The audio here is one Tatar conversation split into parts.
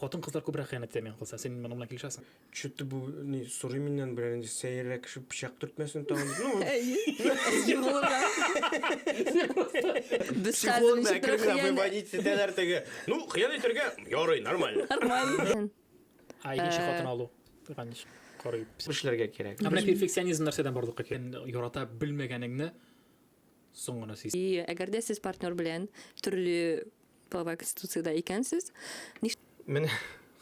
Хатын кызлар күбрәк хыянәт итә мин кылса. Син моның белән килешәсең? Чүтте бу ни сорый миннән берәр нинди сәеррәк кеше пычак төртмәсен тагын. Ну. Психолог да кергән бу бандит сетәләр теге. Ну, хыян итәргә ярый, нормально. Нормально. А икенче хатын алу. Ганыч. Карый. Эшләргә кирәк. Ә менә перфекционизм нәрсәдән барлыкка килә? Ярата белмәгәнеңне соң гына сиз. И әгәр дә сез партнер белән төрле Половая конституцияда икәнсез. Ниш... Менә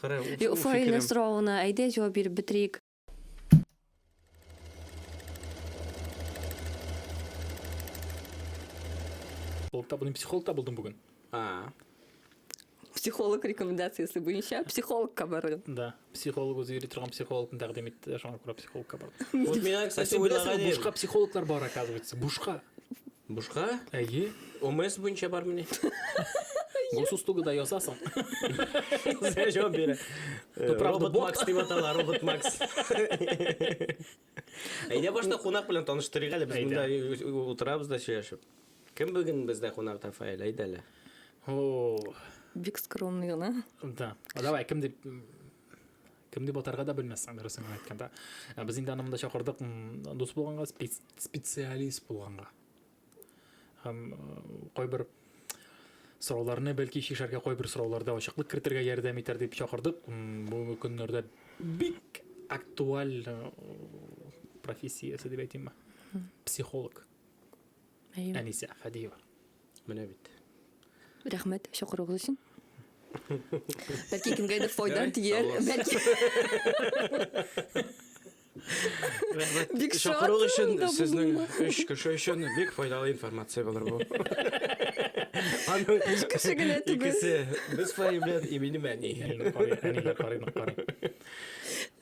кара. Фаилә соравына әйдә җавап биреп бетерик. Психолог табылдым, психолог табылдым бүген. А. Психолог рекомендациясе буенча психологка бардым. Да. психолог үзе йөри торган психологны тәкъдим итте шуңа күрә психологка бардым вот миңа кстати уйлаган бушка психологлар бар оказывается бушка бушка әйе омс буенча бармыни госуслугада ясасың сәҗәп бирә робот макс дип атала робот макс Әйдә башта кунак белән таныштырыйк әле, без монда утырабыз да сөйләшеп. Кем бүген бездә кунак Рафаэль, әйдә әле. О. Бик скромный гына. Да. Давай, кем дип кем дип атарга да белмәссең, дөресен генә әйткәндә. Без инде аны монда чакырдык дус булганга, специалист булганга. Һәм кайбер сорауларны бәлки чишәргә кайбер сорауларда ачыклык кертергә ярдәм итәр дип чакырдык. Бүгенге көннәрдә бик актуаль профессиясе дип әйтимме? Психолог. Әнисә Хәдиева. Менә бит. Рәхмәт чакыруыгыз өчен. Бәлки кемгәдер файда тияр, бәлки. Бик Чакыру өчен сезнең өч кеше өчен бик файдалы информация булыр бу. Аның өч кеше генә түгел. Икесе без файы белән и минем әни.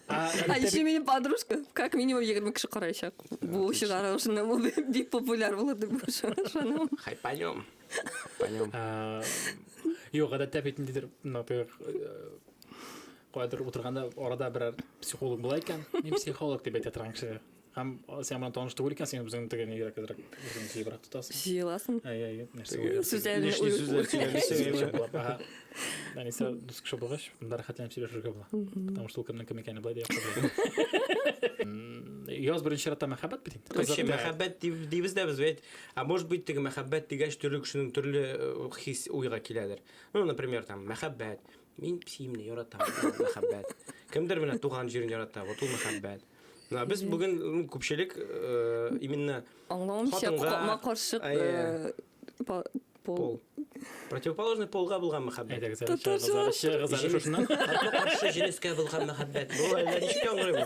А еще минем подружка, как минимум 20 кеше караячак. Бу чыгарылышында бу бик популяр булыр дип ышанам. Хайпанем. Хайпанем. Юк, гадәттә бит ниндидер, например, Кайдыр утырганда арада берәр психолог була икән, мин психолог дип әйтә торган кеше. Һәм син белән таныш түгел икән, син үзең тегене йөрәк әзрәк үзең тибрәк тотасың. Җыеласың. Әй, әй, нәрсә уйларсың? Сүзләрне Лишний уй- сүзләр сөйләмисең. Әнисә дус кеше булгач, монда рәхәтләнеп сөйләшергә була. Потому что ул кемнең кем икәнен болай да яхшы белә. М, Яз беренче чиратта мәхәббәт бит инде. Короче, Кызык та. мәхәббәт диб- дибез дә без бит. А может быть, теге мәхәббәт дигәч, төрле кешенең төрле э, хис уйга киләдер. Ну, например, там, мәхәббәт, Мин псиемне яратам, мәхәббәт. Кемдер менә туган җирен ярата, вот ул мәхәббәт. Менә без бүген ну, күпчелек э, именно Аңламыйча хатынга- капма каршык Әйе. э, па- пол. пол. Противоположный полга булган мәхәббәт. Әйдәгез әле Татарча чыгыгыз әле, чыгыгыз әле шушыннан. Капма-каршы җенескә булган мәхәббәт. Бу әллә ничек яңгырый бу?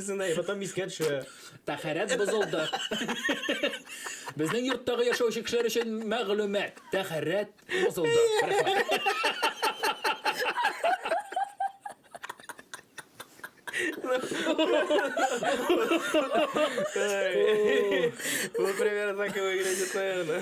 Әтисенә, и потом искә төшә. Тәхәрәт бозылды. Безнең йорттагы яшәүче кешеләр өчен мәгълүмат. Тәхәрәт бозылды. Ну, примерно так и выглядит, наверное.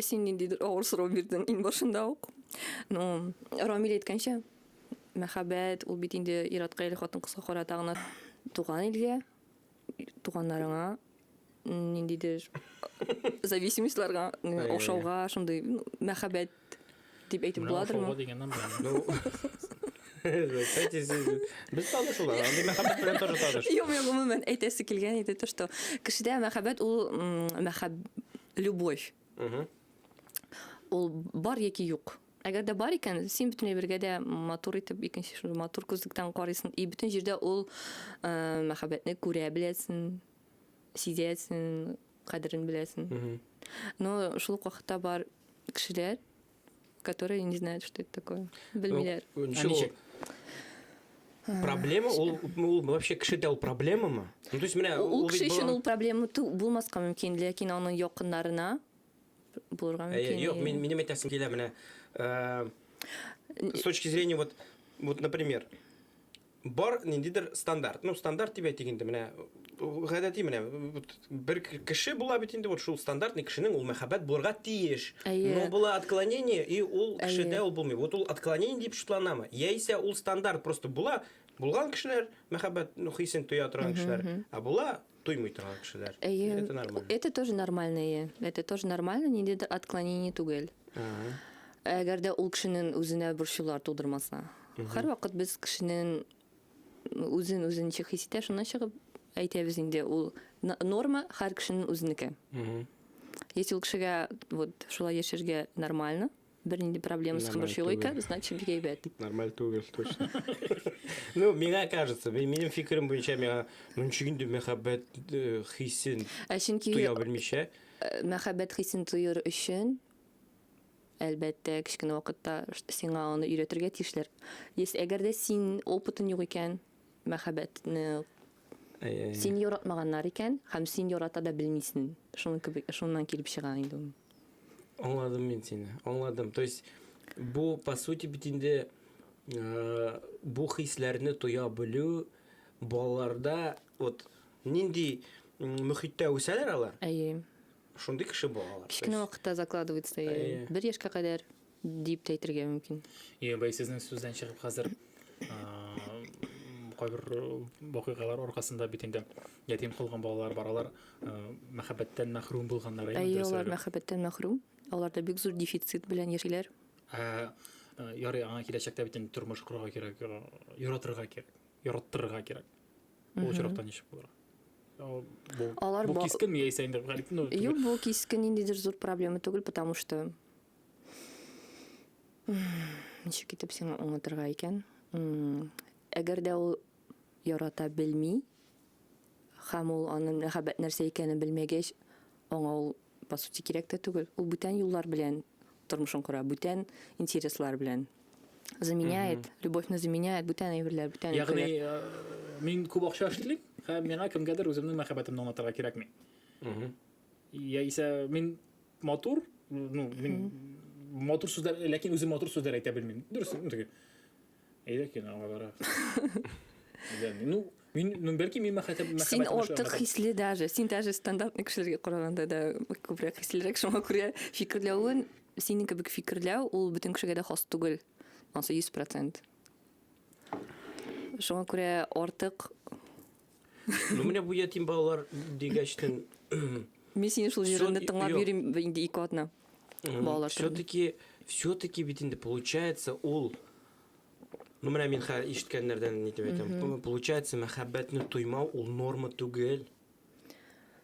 Син ниндидер авыр сорау бирдең иң башында ук. Ну, Рамил әйткәнчә, мәхәббәт ул бит инде иратка или хатын кызга карата гына туган илгә, туганнарыңа ниндидер зависимостьларга, ошауга, шундый мәхәббәт дип әйтеп буладырмы? Без танышулар, андый мәхәббәт белән тоже таныш. Юк, мин гомумән әйтәсе килгән иде то, что кешедә мәхәббәт ул мәхәб любовь. Ул бар яки юк. Әгәр дә бар икән, син бөтен әйбергә дә матур итеп икенче шул матур күзлектән карыйсың. И бөтен җирдә ул мәхәббәтне күрә беләсең, сизәсең, кадерен беләсең. Но шул вакытта бар кешеләр, которые не знают, что это такое. Белмиләр. Ну, ничек? А, проблема ул, ул вообще кешедә ул проблемамы? Ну, то есть менә ул кеше өчен ул проблема булмаска мөмкин, ләкин аның якыннарына булырга э, мөмкин. Юк, мин минем әйтәсем килә менә. Э, с точки зрения вот вот например, Бар ниндидер стандарт. Ну, стандарт дип әйтик инде, менә гадәти менә бер кеше була бит инде, вот шул стандарт ни кешенең ул мәхәббәт булырга тиеш. Но була отклонение, и ул кешедә ул булмый. Вот ул отклонение дип шутланамы? Яисә ул стандарт просто була, булган кешеләр мәхәббәт ну, хисен тоя торган кешеләр, а була Туймый торган кешеләр. Әйе. Это нормально. Это тоже нормально, әйе. Это тоже нормально, ниндидер отклонение түгел. Ага. Әгәр дә ул кешенең үзенә борчулар тудырмаса. Һәрвакыт без кешенең үзен үзенчә хис итә, шуннан чыгып әйтәбез инде, ул н- норма һәр кешенең үзенеке. Мгм. Если ул кешегә вот шулай яшәргә нормально, Бернинди проблема с Нормально хабарчылыйка, түгел. значит бик әйбәт. Нормаль түгел, точно. Ну, миңа кажется, ми- минем фикерем буенча миңа мөнче инде мәхәббәт э, хисен Ә чөнки туя белмичә. э, мәхәббәт хисен тоер өчен әлбәттә кечкенә вакытта ш- сиңа аны өйрәтергә тиешләр. Если әгәр дә син опытың юк икән, мәхәббәтне син яратмаганнар икән һәм син ярата да белмисен. Шуның кебек, шуннан килеп чыга инде ул. Аңладым мин сине. Аңладым. То есть бу по сути бит инде э, бу хисләрне тоя белү балаларда вот нинди мөхиттә үсәләр алар? Әйе. Шундый кеше балалар. Кечкенә вакытта закладывается. Бер яшькә кадәр дип тә әйтергә мөмкин. Йә, бай сезнең сүздән чыгып хәзер кайбер вакыйгалар аркасында бит инде ятим калган балалар бар, алар мәхәббәттән мәхрүм булганнар инде. Әйе, алар мәхәббәттән мәхрүм. Аларда бик зур дефицит белән яшиләр. Ә ярый, аңа киләчәктә бит инде тормыш корырга кирәк, яратырга кирәк, яраттырырга кирәк. Ул очракта ничек булыр? Алар бу кискен яисә инде, ну, юк, бу кискен ниндидер зур проблема түгел, потому что Ничек итеп сиңа аңлатырга икән? Әгәр дә ул ярата белми, һәм ул аны мәхәббәт нәрсә икәнен белмәгәч, аңа ул по сути кирәк тә түгел. Ул бүтән юллар белән тормышын кора, бүтән интереслар белән заменяет, любовьны заменяет, бүтән әйберләр, бүтән Ягъни, э, мин күп акча эшлим, һәм миңа кемгәдер үземнең мәхәббәтемне аңлатырга кирәкми. Яисә мин матур, ну, мин матур сүзләр, ләкин үзем матур сүзләр әйтә белмим. Дөрес, ну, теге. Әйдә ки, аңа бара. Ну, мин, ну, бәлки мин мәхәтәп, мәхәббәт. Син ортык хисле даже. Син даже стандартный кешеләргә караганда да күбрәк хислерәк, шуңа күрә фикерләвен, синең кебек фикерләү, ул бөтен кешегә дә хас түгел. Ансы 100%. Шуңа күрә ортык Ну, менә бу ятим балалар дигәчтен... Мин сине шул җырыңны тыңлап йөрим инде ике атна. Балалар Все-таки, все-таки бит инде получается ул... Ну, менә мин хәл ишеткәннәрдән нитеп әйтәм. Получается, мәхәббәтне тоймау ул норма түгел.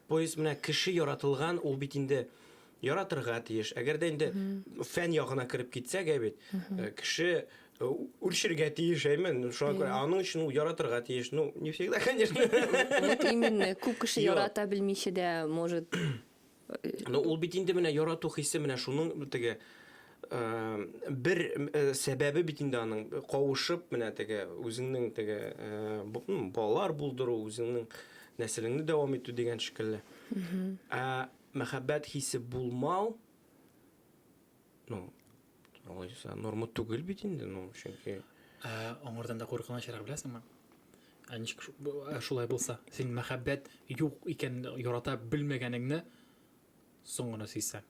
Поезд менә кеше яратылган, ул бит инде яратырга тиеш. Әгәр дә инде фән ягына кереп китсәк, ә бит э, кеше э, үлчергә тиеш, әймен. Ну, Шуңа күрә аның өчен ул яратырга тиеш. Ну, не всегда, конечно. Вот именно, күп кеше Юк. ярата белмичә дә, может, Но ул бит инде менә ярату хисе менә шуның теге э, бер э, сәбәбе бит инде аның кавышып менә теге үзеңнең теге э, бу- м, балалар булдыру, үзеңнең нәселеңне дәвам итү дигән шикелле. Ә Мәхәббәт хисе булмау, ну, алайса, норма түгел бит инде, ну, чөнки. Ә, аңардан да куркынычрак беләсеңме? Ә ничек шулай булса, син мәхәббәт юк икән ярата белмәгәнеңне соң гына сизсәң.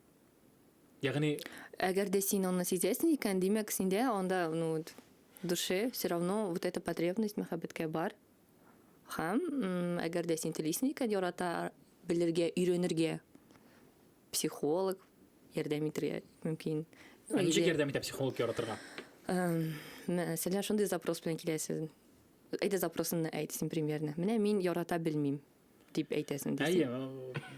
Ягъни әгәр дә син аны сизәсең икән, димәк, синдә анда, ну, душе все равно вот эта потребность мәхәббәткә бар. Һәм, әгәр дә син телисең икән ярата белергә, өйрәнергә, психолог ярдәм итергә мөмкин. Ә ничек ярдәм итә психолог яратырга? Мәсәлән, шундый запрос белән киләсез. Әйдә запросыңны әйт син примерно. Менә мин ярата белмим. дип әйтәсең дисең. Әйе, ул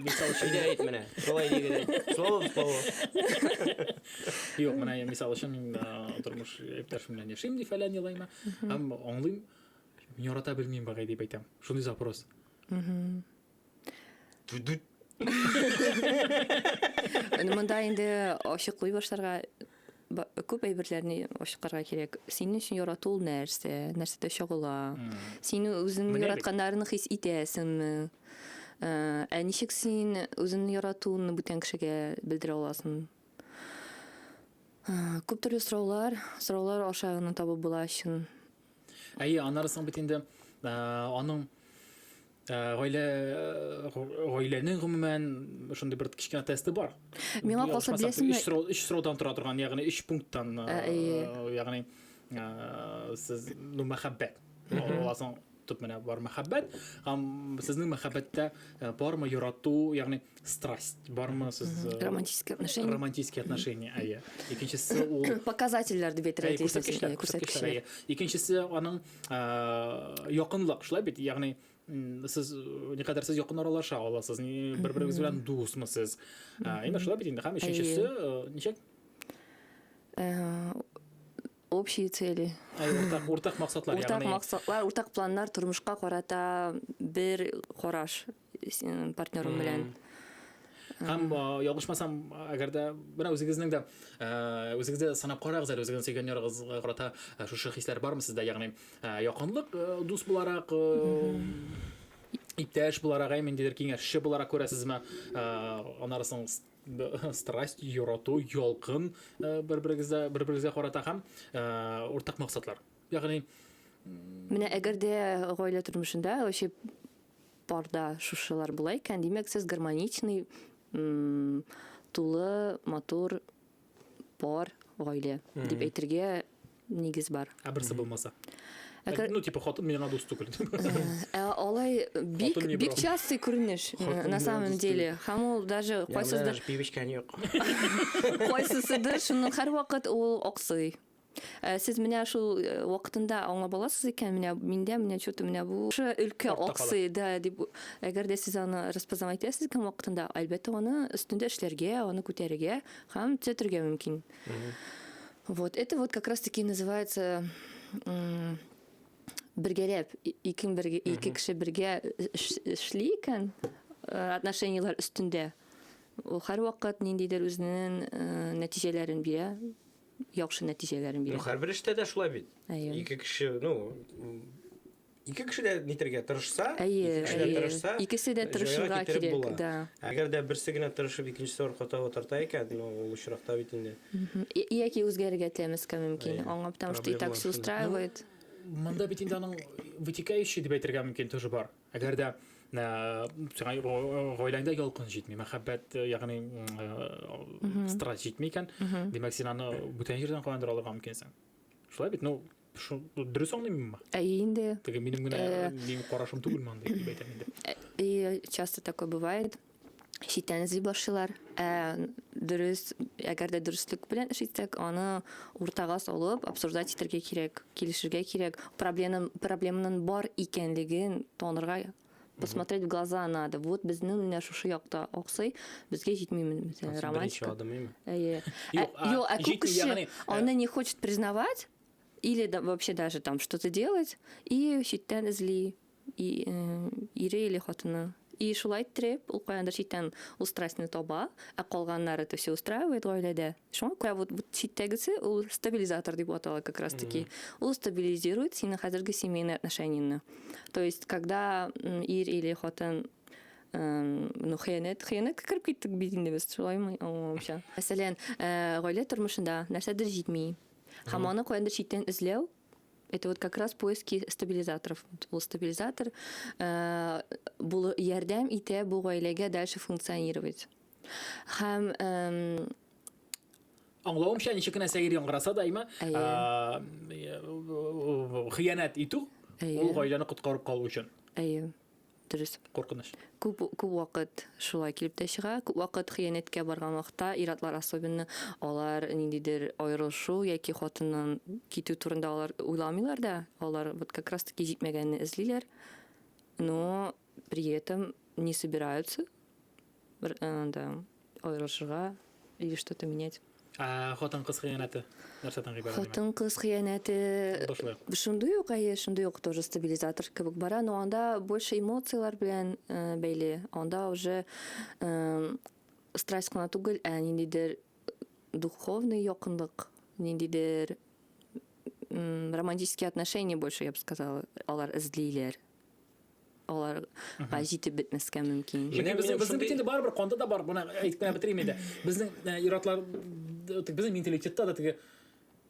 мисал өчен Әйдә әйт менә. Шулай дигән. Слово в слово. Юк, менә я мисал өчен мин а, тормыш иптәшем белән яшим ди фәлән елайма. Һәм аңлыйм, мин ярата белмим багай дип әйтәм. Шундый запрос. Түдүт. Аны монда инде ачыклый башларга күп әйберләрне ачыкларга кирәк. Синең өчен ярату ул нәрсә? Нәрсәдә чагыла? Сине үзең яратканнарын хис итәсеңме? Э, ә ничек син үзеңне яратуыңны бүтән кешегә белдерә аласың? Э, күп төрле сораулар, сораулар аша гына табып була чын. Әйе, аннары соң бит инде э, аның Э, гаилә э, гаиләнең гомумән шундый бер кечкенә тесты бар миңа калса беләсеңме өч сораудан тора торган ягъни өч пункттан э, ягъни сез ну мәхәббәт аласың төп менә бар мәхәббәт һәм сезнең мәхәббәттә бармы ярату ягъни страсть бармы сез романтические отношения романтические отношения әйе икенчесе ул показательләр дип әйтергә тиеш күрсәткечләр икенчесе аның якынлык шулай бит ягъни сез никадәр сез якын аралаша аласыз бер берегез белән дусмы сез әйме шулай бит инде һәм өченчесе ничек общие цели уртак уртак максатлар уртак максатлар уртак планнар тормышка карата бер караш партнерым белән. Һәм ялгышмасам, әгәр дә менә үзегезнең дә үзегездә дә санап карагыз әле, үзегезнең сөйгән ярыгызга карата шушы хисләр бармы сездә? Ягъни якынлык дус буларак, иптәш буларак, әй ниндидер киңәшче буларак күрәсезме? Аннары соң страсть, ярату, ялкын бер-берегезгә бер-берегезгә карата һәм уртак максатлар. Ягъни Менә әгәр дә гаилә тормышында вообще Парда шушылар була икән, димәк, сез гармоничный, тулы, матур пар гаилә дип әйтергә нигез бар. Ә берсе булмаса. Әгәр... Ну, типа, хатын миңа дус түгел. Ә алай бик, бик частый күренеш, на самом деле. Һәм ул даже кайсыздыр... Пивочка юк. Кайсысыдыр, шуның һәр вакыт ул аксый. Э, сез менә шул э, вакытында аңлап аласыз икән менә миндә менә что то менә бу өлкә аксый да дип әгәр дә сез аны распознавать итәсез икән вакытында әлбәттә аны өстендә эшләргә аны күтәрергә һәм төзәтергә мөмкин вот это вот как раз таки называется бергәләп ике бергә ике кеше бергә эшли икән э, отношенияләр өстендә ул һәрвакыт ниндидер үзенең нәтиҗәләрен бирә яхшы нәтиҗәләрен бирә. Ну, һәрбер эштә дә шулай бит. Әйе. Ике кеше, ну, ике кеше дә нитергә тырышса, әйе, ике кеше дә тырышса, икесе дә тырышырга кирәк, була. да. Әгәр дә берсе генә тырышып, икенчесе арка таба тарта икән, ну, ул очракта бит инде. Яки үзгәрергә тәмәскә мөмкин. Аңа потому что и так все устраивает. Монда бит инде аның вытекающий дип әйтергә мөмкин тоже бар. Әгәр дә сиңа гаиләңдә ялкын җитми, мәхәббәт, ягъни страсть җитми икән, димәк, син аны бүтән җирдән каяндыр алырга мөмкинсең. Шулай бит, ну, дөрес аңлыйм мин Ә инде. Теге минем генә минем карашым түгел монда дип әйтәм инде. И часто такое бывает. читтән эзли башлыйлар. Ә дөрес, әгәр дә дөреслек белән эш итсәк, аны уртага салып, обсуждать итәргә кирәк, килешергә кирәк. Проблемның проблемның бар икәнлеген танырга посмотреть в глаза надо. Вот безнең менә шушы якта аксый, безгә җитмиме мәсәлән романтика. Әйе. Юк, ә күп кеше аны не хочет признавать или вообще даже там что-то делать и читтән эзли. и, э, ире или хатыны. И шулай иттереп, ул каяндыр читтән устраснны таба, ә калганнар это все устраивает гаиләдә. Шуңа күрә вот, вот читтәгесе ул стабилизатор дип атала как раз таки. Mm -hmm. Ул стабилизирует сине хәзерге семейный отношенияны. То есть, когда ир или хатын ну хыянәт хыянәткә кереп киттек бит инде без шулаймы аңламыйча мәсәлән э, гаилә тормышында нәрсәдер җитми һәм аны каяндыр читтән эзләү это вот как раз поиски стабилизаторов. Вот был стабилизатор, э, был ярдәм итә бу гаиләгә дальше функционировать. Һәм э, Аңлавымча, ничек кенә сәер яңгыраса да, имә, хыянәт итү, ул гаиләне коткарып калу өчен. Әйе. Дөрес. Куркыныч. Күп, күп вакыт шулай килеп тә чыга. Күп вакыт хыянәткә барган вакытта ир-атлар особенно алар ниндидер аерылышу яки хатыннан китү турында алар уйламыйлар да. Алар вот как раз таки җитмәгәнне эзлиләр. Но при этом не собираются бер анда аерылышырга или что-то менять. Ә хатын-кыз хыянәте нәрсәдән гыйбарәт? Хатын-кыз хыянәте шундый ук, әйе, шундый ук тоже стабилизатор кебек бара, но анда больше эмоцияләр белән э, бәйле. Анда уже э, страсть кына түгел, ә ниндидер духовный якынлык, ниндидер романтические отношения больше, я бы сказала, алар эзлиләр. аларга җитеп бетмәскә мөмкин. Менә безнең безнең бит инде барыбер канда да бар, моны әйтеп кенә бетерим инде. Безнең э, иратлар безнең менталитетта да теге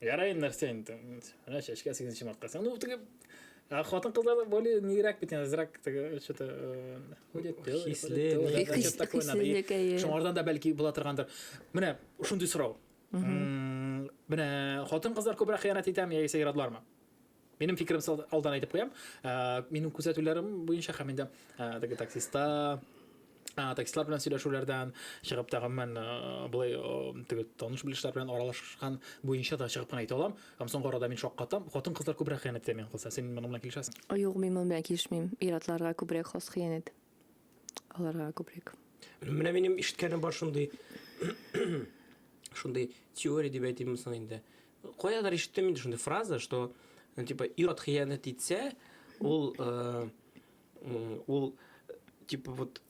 ярай нәрсә инде. Менә чәчкә 8 марка. Ну теге а хатын кызлар более нигрәк бит азрак теге что-то э, ходят хисле шуңардан да бәлки була торгандыр менә шундый сорау менә хатын кызлар күбрәк хыянәт итәме яисә иратлармы Минем фикеремсә алдан әйтеп куям, минем күзәтүләрем буенча һәм инде теге таксиста таксистлар белән сөйләшүләрдән чыгып та гомумән болай теге таныш-белешләр белән аралашкан буенча да чыгып кына әйтә алам. Һәм соңгы арада мин шаккатам, хатын-кызлар күбрәк хыянәт итә миңа калса. Син моның белән килешәсеңме? Юк, мин моның белән килешмим. Ир-атларга күбрәк хас хыянәт. аларга күбрәк. Менә минем ишеткәнем бар шундый шундый теория дип әйтимме соң инде. Каядыр ишеттем инде шундый фраза, что ну, типа ир-ат хыянәт итсә, ул э, ул типа вот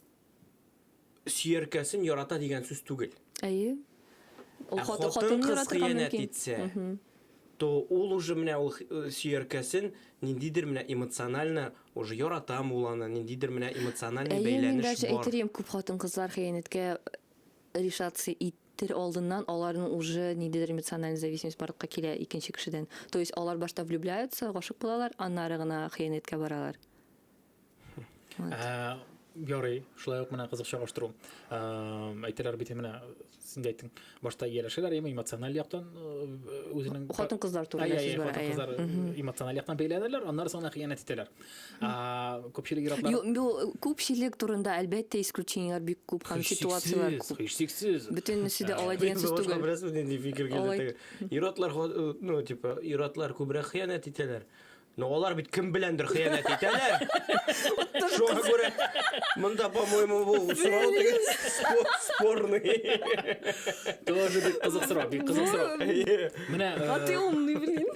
сөяркәсен ярата дигән сүз түгел. Әйе. Ул ә хатын, хатын кыз хыянәт итсә, то ул уже менә ул сөяркәсен ниндидер менә эмоционально уже яратам ул аны, ниндидер менә эмоциональный Әйе, мин бәйләнеш бар. даже әйтер идем, күп хатын-кызлар хыянәткә решаться итер алдыннан аларның уже ниндидер эмоциональный зависимость барлыкка килә икенче кешедән. То есть алар башта влюбляются, гашык булалар, аннары гына хыянәткә баралар. Ә, ярый, шулай ук менә кызык чагыштыру. Ә, әйтәләр бит менә син әйттең, башта ияләшәләр, яме эмоциональ яктан э, үзенең хатын кызлар турында сүз бара. Хатын кызлар эмоциональ яктан бәйләнәләр, аннары соңына хыянәт итәләр. Ә, күпчелек иратлар Бу күпчелек турында әлбәттә исключениеләр бик күп һәм ситуацияләр күп. Һичшиксез. Бөтенесе дә алай дигән сүз түгел. Беләсез нинди фикер килде? Иратлар, ну, типа, иратлар күбрәк хыянәт итәләр. Ну, алар бит кем беләндер хыянәт итәләр. Шуңа күрә монда, по-моему, бу сорау теге спорный. Тоже бик кызык сорау, бик кызык сорау. Менә А ты умный, блин.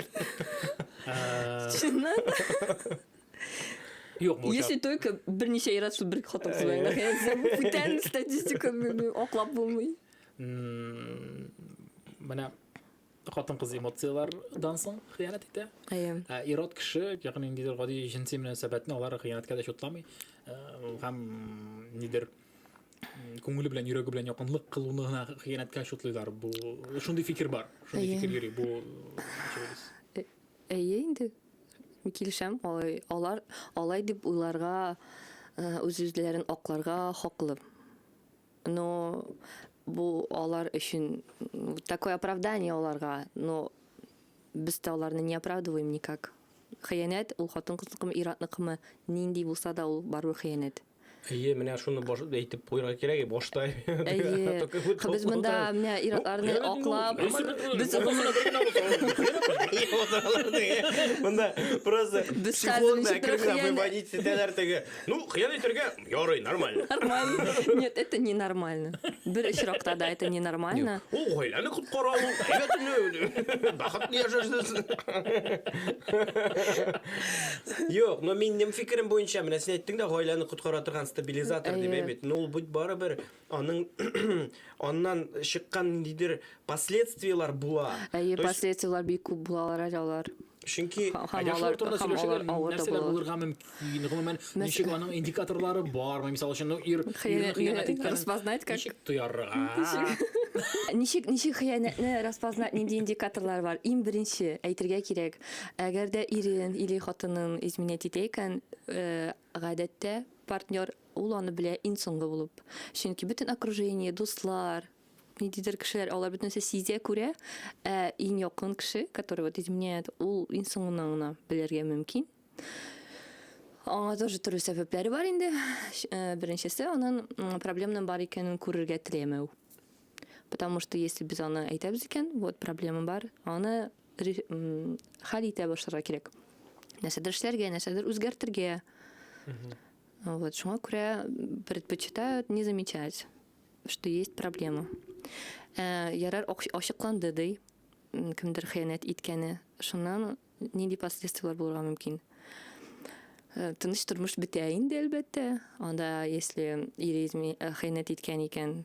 Чыннан да. Юк, бу Если только берничә ир атсыз бер хатын кыз белән хыянәт итсә, бу бүтән статистика аклап булмый. Менә хатын-кыз эмоцияләрдән соң хыянәт итә. Әйе. Ә ирод кеше, ягъни ниндидер гади җенси мөнәсәбәтне алар хыянәткә дә чутламый. Э, һәм нидер күңеле белән, йөрәге белән якынлык кылуны гына хыянәткә чутлыйлар. Бу шундый фикер бар. Шундый фикер йөри бу э, Әйе инде. Килешәм, алай алар алай дип уйларга, э, үз-үзләрен акларга хаклы. Но бу алар өчен такое оправдание аларга, но без дә аларны не оправдываем никак. Хыянәт ул хатын-кызныкымы, ир-атныкымы, нинди булса да ул барыбер хыянәт. Әйе, менә шуны баш әйтеп куярга кирәк, башта. Әйе. Без монда менә ир-атларны аклап, без Монда просто без хәзер ничек кирәк, бай бай дитсәләр теге. Ну, хыян итәргә Ярый, нормально. Нормально. Нет, это не нормально. Бер очракта да это не нормально. Ул гаиләне коткара ул. Әйбәтне. Бахытлы яшәшсез. Юк, но минем фикерем буенча, менә син әйттең дә гаиләне коткара торган стабилизатор дип әйбит. Но ул бит барыбер Аның аннан чыккан ниндидер последствиелар була. Әйе, То есть- последствиелар бик күп булалар әле алар. Чөнки Һәм- һәм Әле шулар алар- турында һәм сөйләшәләр, алар авыр да нәрсәләр булалар. булырга мөмкин, гомумән, Нәрсә- ничек аның индикаторлары бармы, мисал өчен, ну, ир ирне Хыянәтне хыянәт иткәнен распознать как? ничек тоярга? Ничек ничек хыянәтне распознать нинди индикаторлар бар? Иң беренче әйтергә кирәк, әгәр дә ирен или хатынын изменять итә икән, э, Гадәттә, партнер, ул аны белә иң соңгы булып. Чөнки бөтен окружение, дуслар, ниндидер кешеләр, алар бөтен нәрсә сизә, күрә, ә иң якын кеше, который вот изменяет, ул иң соңыннан гына белергә мөмкин. Аңа тоже төрле сәбәпләре бар инде. Беренчесе, анын проблемнын бар икәнен күрергә теләмәү. Потому что если без аны әйтәбез икән, вот проблема бар, аны хәл итә башларга кирәк. Нәрсәдер эшләргә, нәрсәдер үзгәртергә. Вот, шуңа күрә предпочитают не замечать, что есть проблема. Ә, ярар ачыкланды ди, кемдер хыянәт иткәне. Шуннан нинди последствияләр булырга мөмкин? Э, тыныч тормыш бетә инде, әлбәттә. Анда, если ир изме, э, хыянәт иткән икән,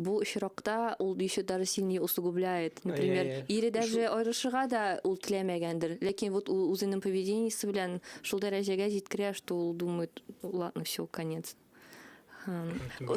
бу очракта ул еще даже сильнее усугубляет. Например, yeah, yeah. ире даже Шу... аерышырга да ул теләмәгәндер. Ләкин вот үзенең поведениесе белән шул дәрәҗәгә җиткерә, что ул думает, ладно, все, конец.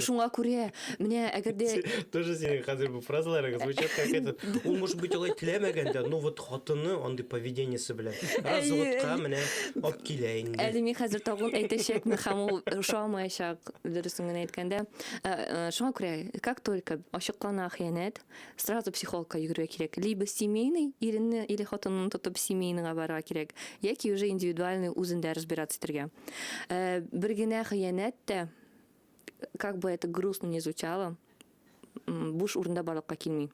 Шуңа күрә, менә әгәр дә... Тоже синең хәзер бу фразаларың звучат как это. Ул, может быть, алай теләмәгән дә, но вот хатыны андый поведениесе белән. Разводка менә алып килә инде. Әле мин хәзер тагын әйтәчәкмен, һәм ул ошамаячак. Дөресен генә әйткәндә, э, э, шуңа күрә, как только ачыклана хыянәт, сразу психологка йөгерергә кирәк. Либо семейный, иренне или хатынны тотып семейныйга барырга кирәк, яки уже индивидуальный үзендә разбираться итәргә. Э, бер генә хыянәт тә, как бы это грустно не звучало, буш урында барлыкка килми.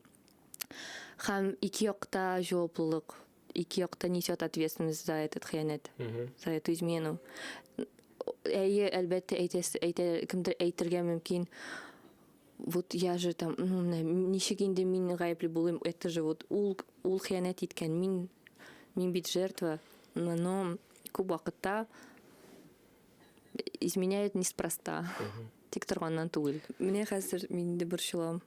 Һәм ике якта җаваплылык ике якта несет ответственность за этот хыянәт, за эту измену. Әйе, әлбәттә, кемдер әйтергә мөмкин, вот я же там, ну, ничек инде мин гаепле булыйм, это же вот ул, ул хыянәт иткән, мин, мин бит жертва, но күп вакытта изменяет неспроста, тик торганнан түгел. Менә хәзер мин инде борчылам.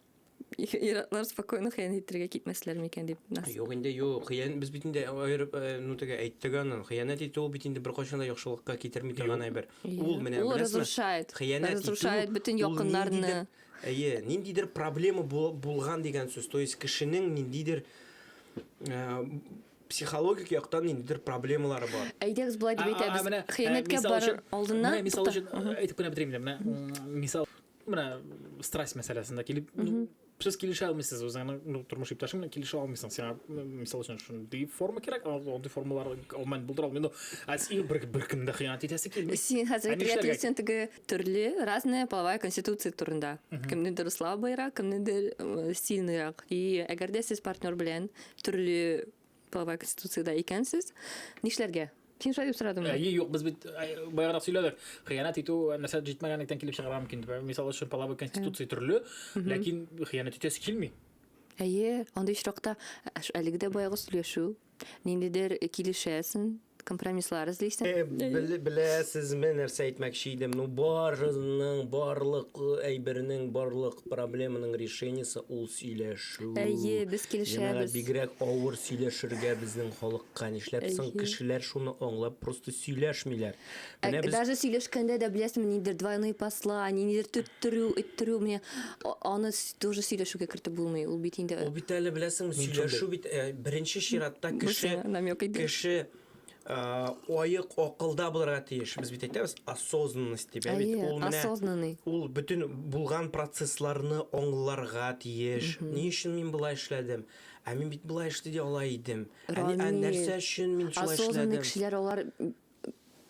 Иратлар спокойно хыян итергә китмәсләр микән дип. Юк инде, юк. Хыян без бит инде аерып, э, ну тегә әйттек аны. Хыянәт итү бит инде беркайчан да яхшылыкка китерми торган әйбер. Ул менә Ул разрушает. Хыянәт итү. Разрушает бөтен якыннарны. Әйе, ниндидер проблема булган дигән сүз. То есть кешенең ниндидер э, психологик яктан ниндидер проблемалары бар. Әйдәгез болай дип әйтәбез. Хыянәткә барыр алдыннан. Мисал өчен әйтеп кенә бетерим. Менә мисал Менә страсть мәсьәләсендә килеп, ну, сез килешә алмыйсыз үзеңнең ну, тормыш иптәшең белән килешә алмыйсың. Сиңа мисал өчен шундый форма кирәк, андый формалар алман булдыра алмый. Ну, ә син бер бер кемдә хыянәт итәсе килми. Син хәзер әйтергә сен теге төрле разная половая конституция турында. Кемнедер слабыйрак, кемнедер сильныйрак. И әгәр дә сез партнер белән төрле половая конституциядә икәнсез, нишләргә? Син шулай дип сорадыңмы? Әйе, юк, без бит баягырак сөйләдек. Хыянәт итү нәрсә җитмәгәнлектән килеп чыгарга мөмкин. Мисал өчен, половой конституция төрле, ләкин хыянәт итәсе килми. Әйе, андый очракта әлеге дә баягы сөйләшү, ниндидер килешәсең, Компромисслар эзлисең. Э, беләсезме, нәрсә әйтмәкче идем? Ну, барының, барлык э, әйбернең, барлык проблеманың решениесе ул сөйләшү. Әйе, без килешәбез. Янәра бигрәк авыр сөйләшергә безнең халыкка. Нишләп соң кешеләр шуны аңлап просто сөйләшмиләр? Ә, Менә без- Даже сөйләшкәндә дә беләсеңме, нидер двойные послания, нидер төттерү, өттерү, менә а- аны с- тоже сөйләшүгә кертеп булмый. Ул бит инде Ул бит әле беләсеңме, Мин шундый. сөйләшү бит э, беренче чиратта кеше Бусина намек иде. кеше а, аек акылда булырга тиеш. Без бит әйтәбез осознанность дип, ә бит Әйе, ул менә осознанный. ул бөтен булган процессларны аңларга тиеш. Ни өчен мин болай эшләдем? Ә мин бит болай эшли ала идем. Ә, ни- ә Рамил, нәрсә өчен мин шулай Осознанный эшләдем? кешеләр алар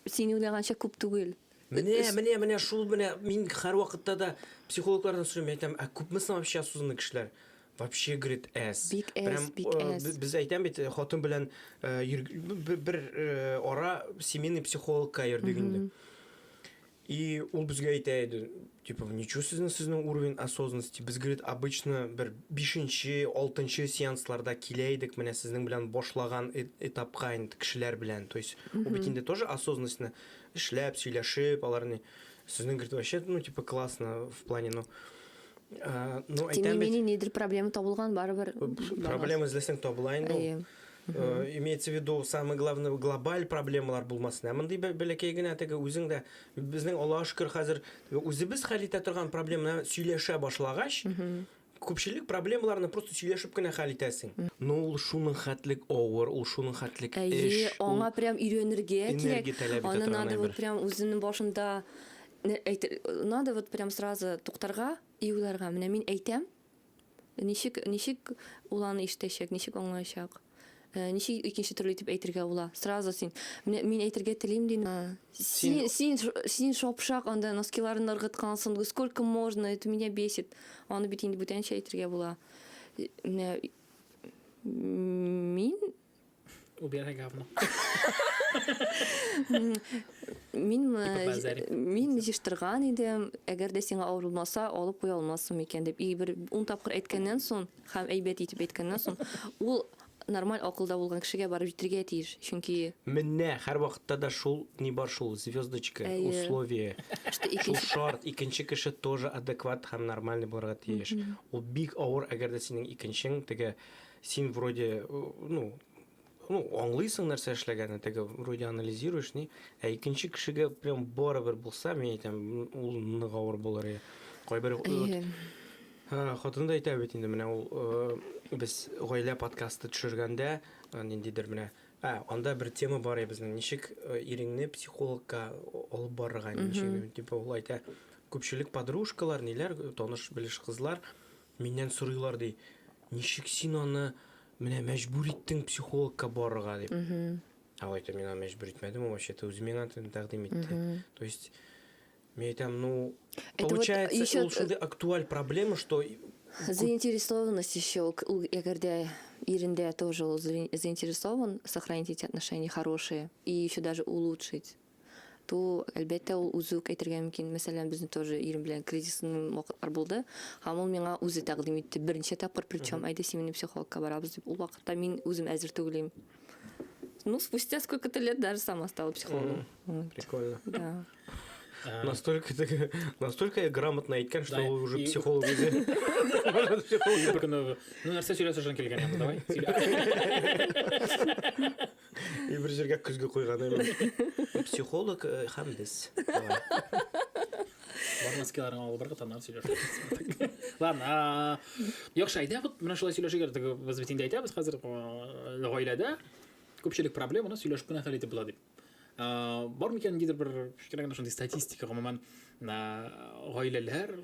Син уйлаганча күп түгел. Менә, менә, менә шул менә мин һәр вакытта да психологлардан сорыйм, әйтәм, ә күпме соң вообще осознанный кешеләр? Вообще, говорит, әз. Бик әз, Прям, бик э, әз. б- Без әйтәм бит, хатын белән э, йөр- б- б- бер э, ара семейный психологка йөрдек инде. И ул безгә әйтә иде, типа, ничего сезнең сезнең уровень осознанности, без, говорит, обычно бер бишенче, алтынчы сеансларда килә идек, менә сезнең белән башлаган этапка инде кешеләр белән, то есть, ул бит инде тоже осознанностьны эшләп, сөйләшеп, алар ни, сезнең, говорит, вообще, ну, типа, классно в плане, ну, ну, әйтәм бит. Тем не менее, нидер проблема табылган барыбер. Проблема эзләсәң табыла инде ул. имеется в виду самый главный глобаль проблемалар булмасын ә мондый бәләкәй генә теге үзең дә безнең аллага шөкер хәзер үзебез хәл итә торган проблеманы сөйләшә башлагач күпчелек проблемаларны просто сөйләшеп кенә хәл итәсең но ул шуның хәтлек авыр ул шуның хәтлек эш аңа прям өйрәнергә кирәк аны надо вот прям үзенең башында надо вот прям сразу туктарга и уйларга менә мин әйтәм Ничек, ничек ул аны ишетәчәк, ничек аңлаячак? Э, ничек икенче төрле итеп әйтергә була? Сразу син. Менә мин әйтергә телим дим. Э, син, син, син шапшак, анда носкиларны ыргыткансың. Сколько можно? Это меня бесит. Аны бит инде бүтәнчә әйтергә була. Э, менә мин Убирай говно. Мин мин җыштырган идем, әгәр дә сиңа авыр булмаса, алып куя алмассың микән дип. И бер 10 тапкыр әйткәннән соң һәм әйбәт итеп әйткәннән соң, ул нормаль акылда булган кешегә барып җитергә тиеш. Чөнки Менә һәр вакытта да шул ни бар шул звездочка, условие. Шул шарт, икенче кеше тоже адекват һәм нормальный булырга тиеш. Ул бик авыр, әгәр дә синең икенчең теге Син вроде, ну, ну, аңлыйсың нәрсә эшләгәнен, теге вроде анализируешь, ни. Ә икенче кешегә прям барыбер булса, мин әйтәм, ул нык авыр булыр. Кайбер Хатын да әйтә бит инде, менә ул без гаилә подкасты төшергәндә, ниндидер менә, ә, анда бер тема бар иде безнең, ничек иреңне психологка алып барырга, ничек, типа, ул әйтә, күпчелек подружкалар, ниләр, таныш-белеш кызлар, Миннән сорыйлар, ди, ничек син аны менә мәҗбүр иттең психологка барырга дип. Ә әйтәм, мин аны мәҗбүр итмәдем, ул вообще-то үзе миңа тәкъдим итте. То есть, мин әйтәм, ну, получается, вот еще... ул шундый актуаль проблема, что... Заинтересованность еще, әгәр дә ирендә тоже заинтересован сохранить эти отношения хорошие и еще даже улучшить. то, әлбәттә, ул үзе үк әйтергә мөмкин. Мәсәлән, безнең тоже ирем белән кризисный вакытлар булды, һәм ул миңа үзе тәкъдим итте. Берничә тапкыр, причем, әйдә семейный психологка барабыз дип. Ул вакытта мин үзем әзер түгел идем. Ну, спустя сколько-то лет даже сама стала психологом. Вот. Прикольно. Да. А. Настолько, настолько я грамотно айткен, что вы уже психолог уже. Может, психолог. Ну, нәрсе сөйләсә шын келген, давай. И бер җиргә көзге куйган имеш. Психолог э, һәм без. Давай. Бар маскаларың алып барга таннан сөйләшә. Ладно, а, яхшы, әйдә, вот менә шулай сөйләшергә теге без бит инде әйтәбез хәзер а, гаиләдә күпчелек проблеманы сөйләшеп кенә хәл итеп була дип. А, Бар микән нидер бер кечкенә генә шундый статистика, гомумән, а, гаиләләр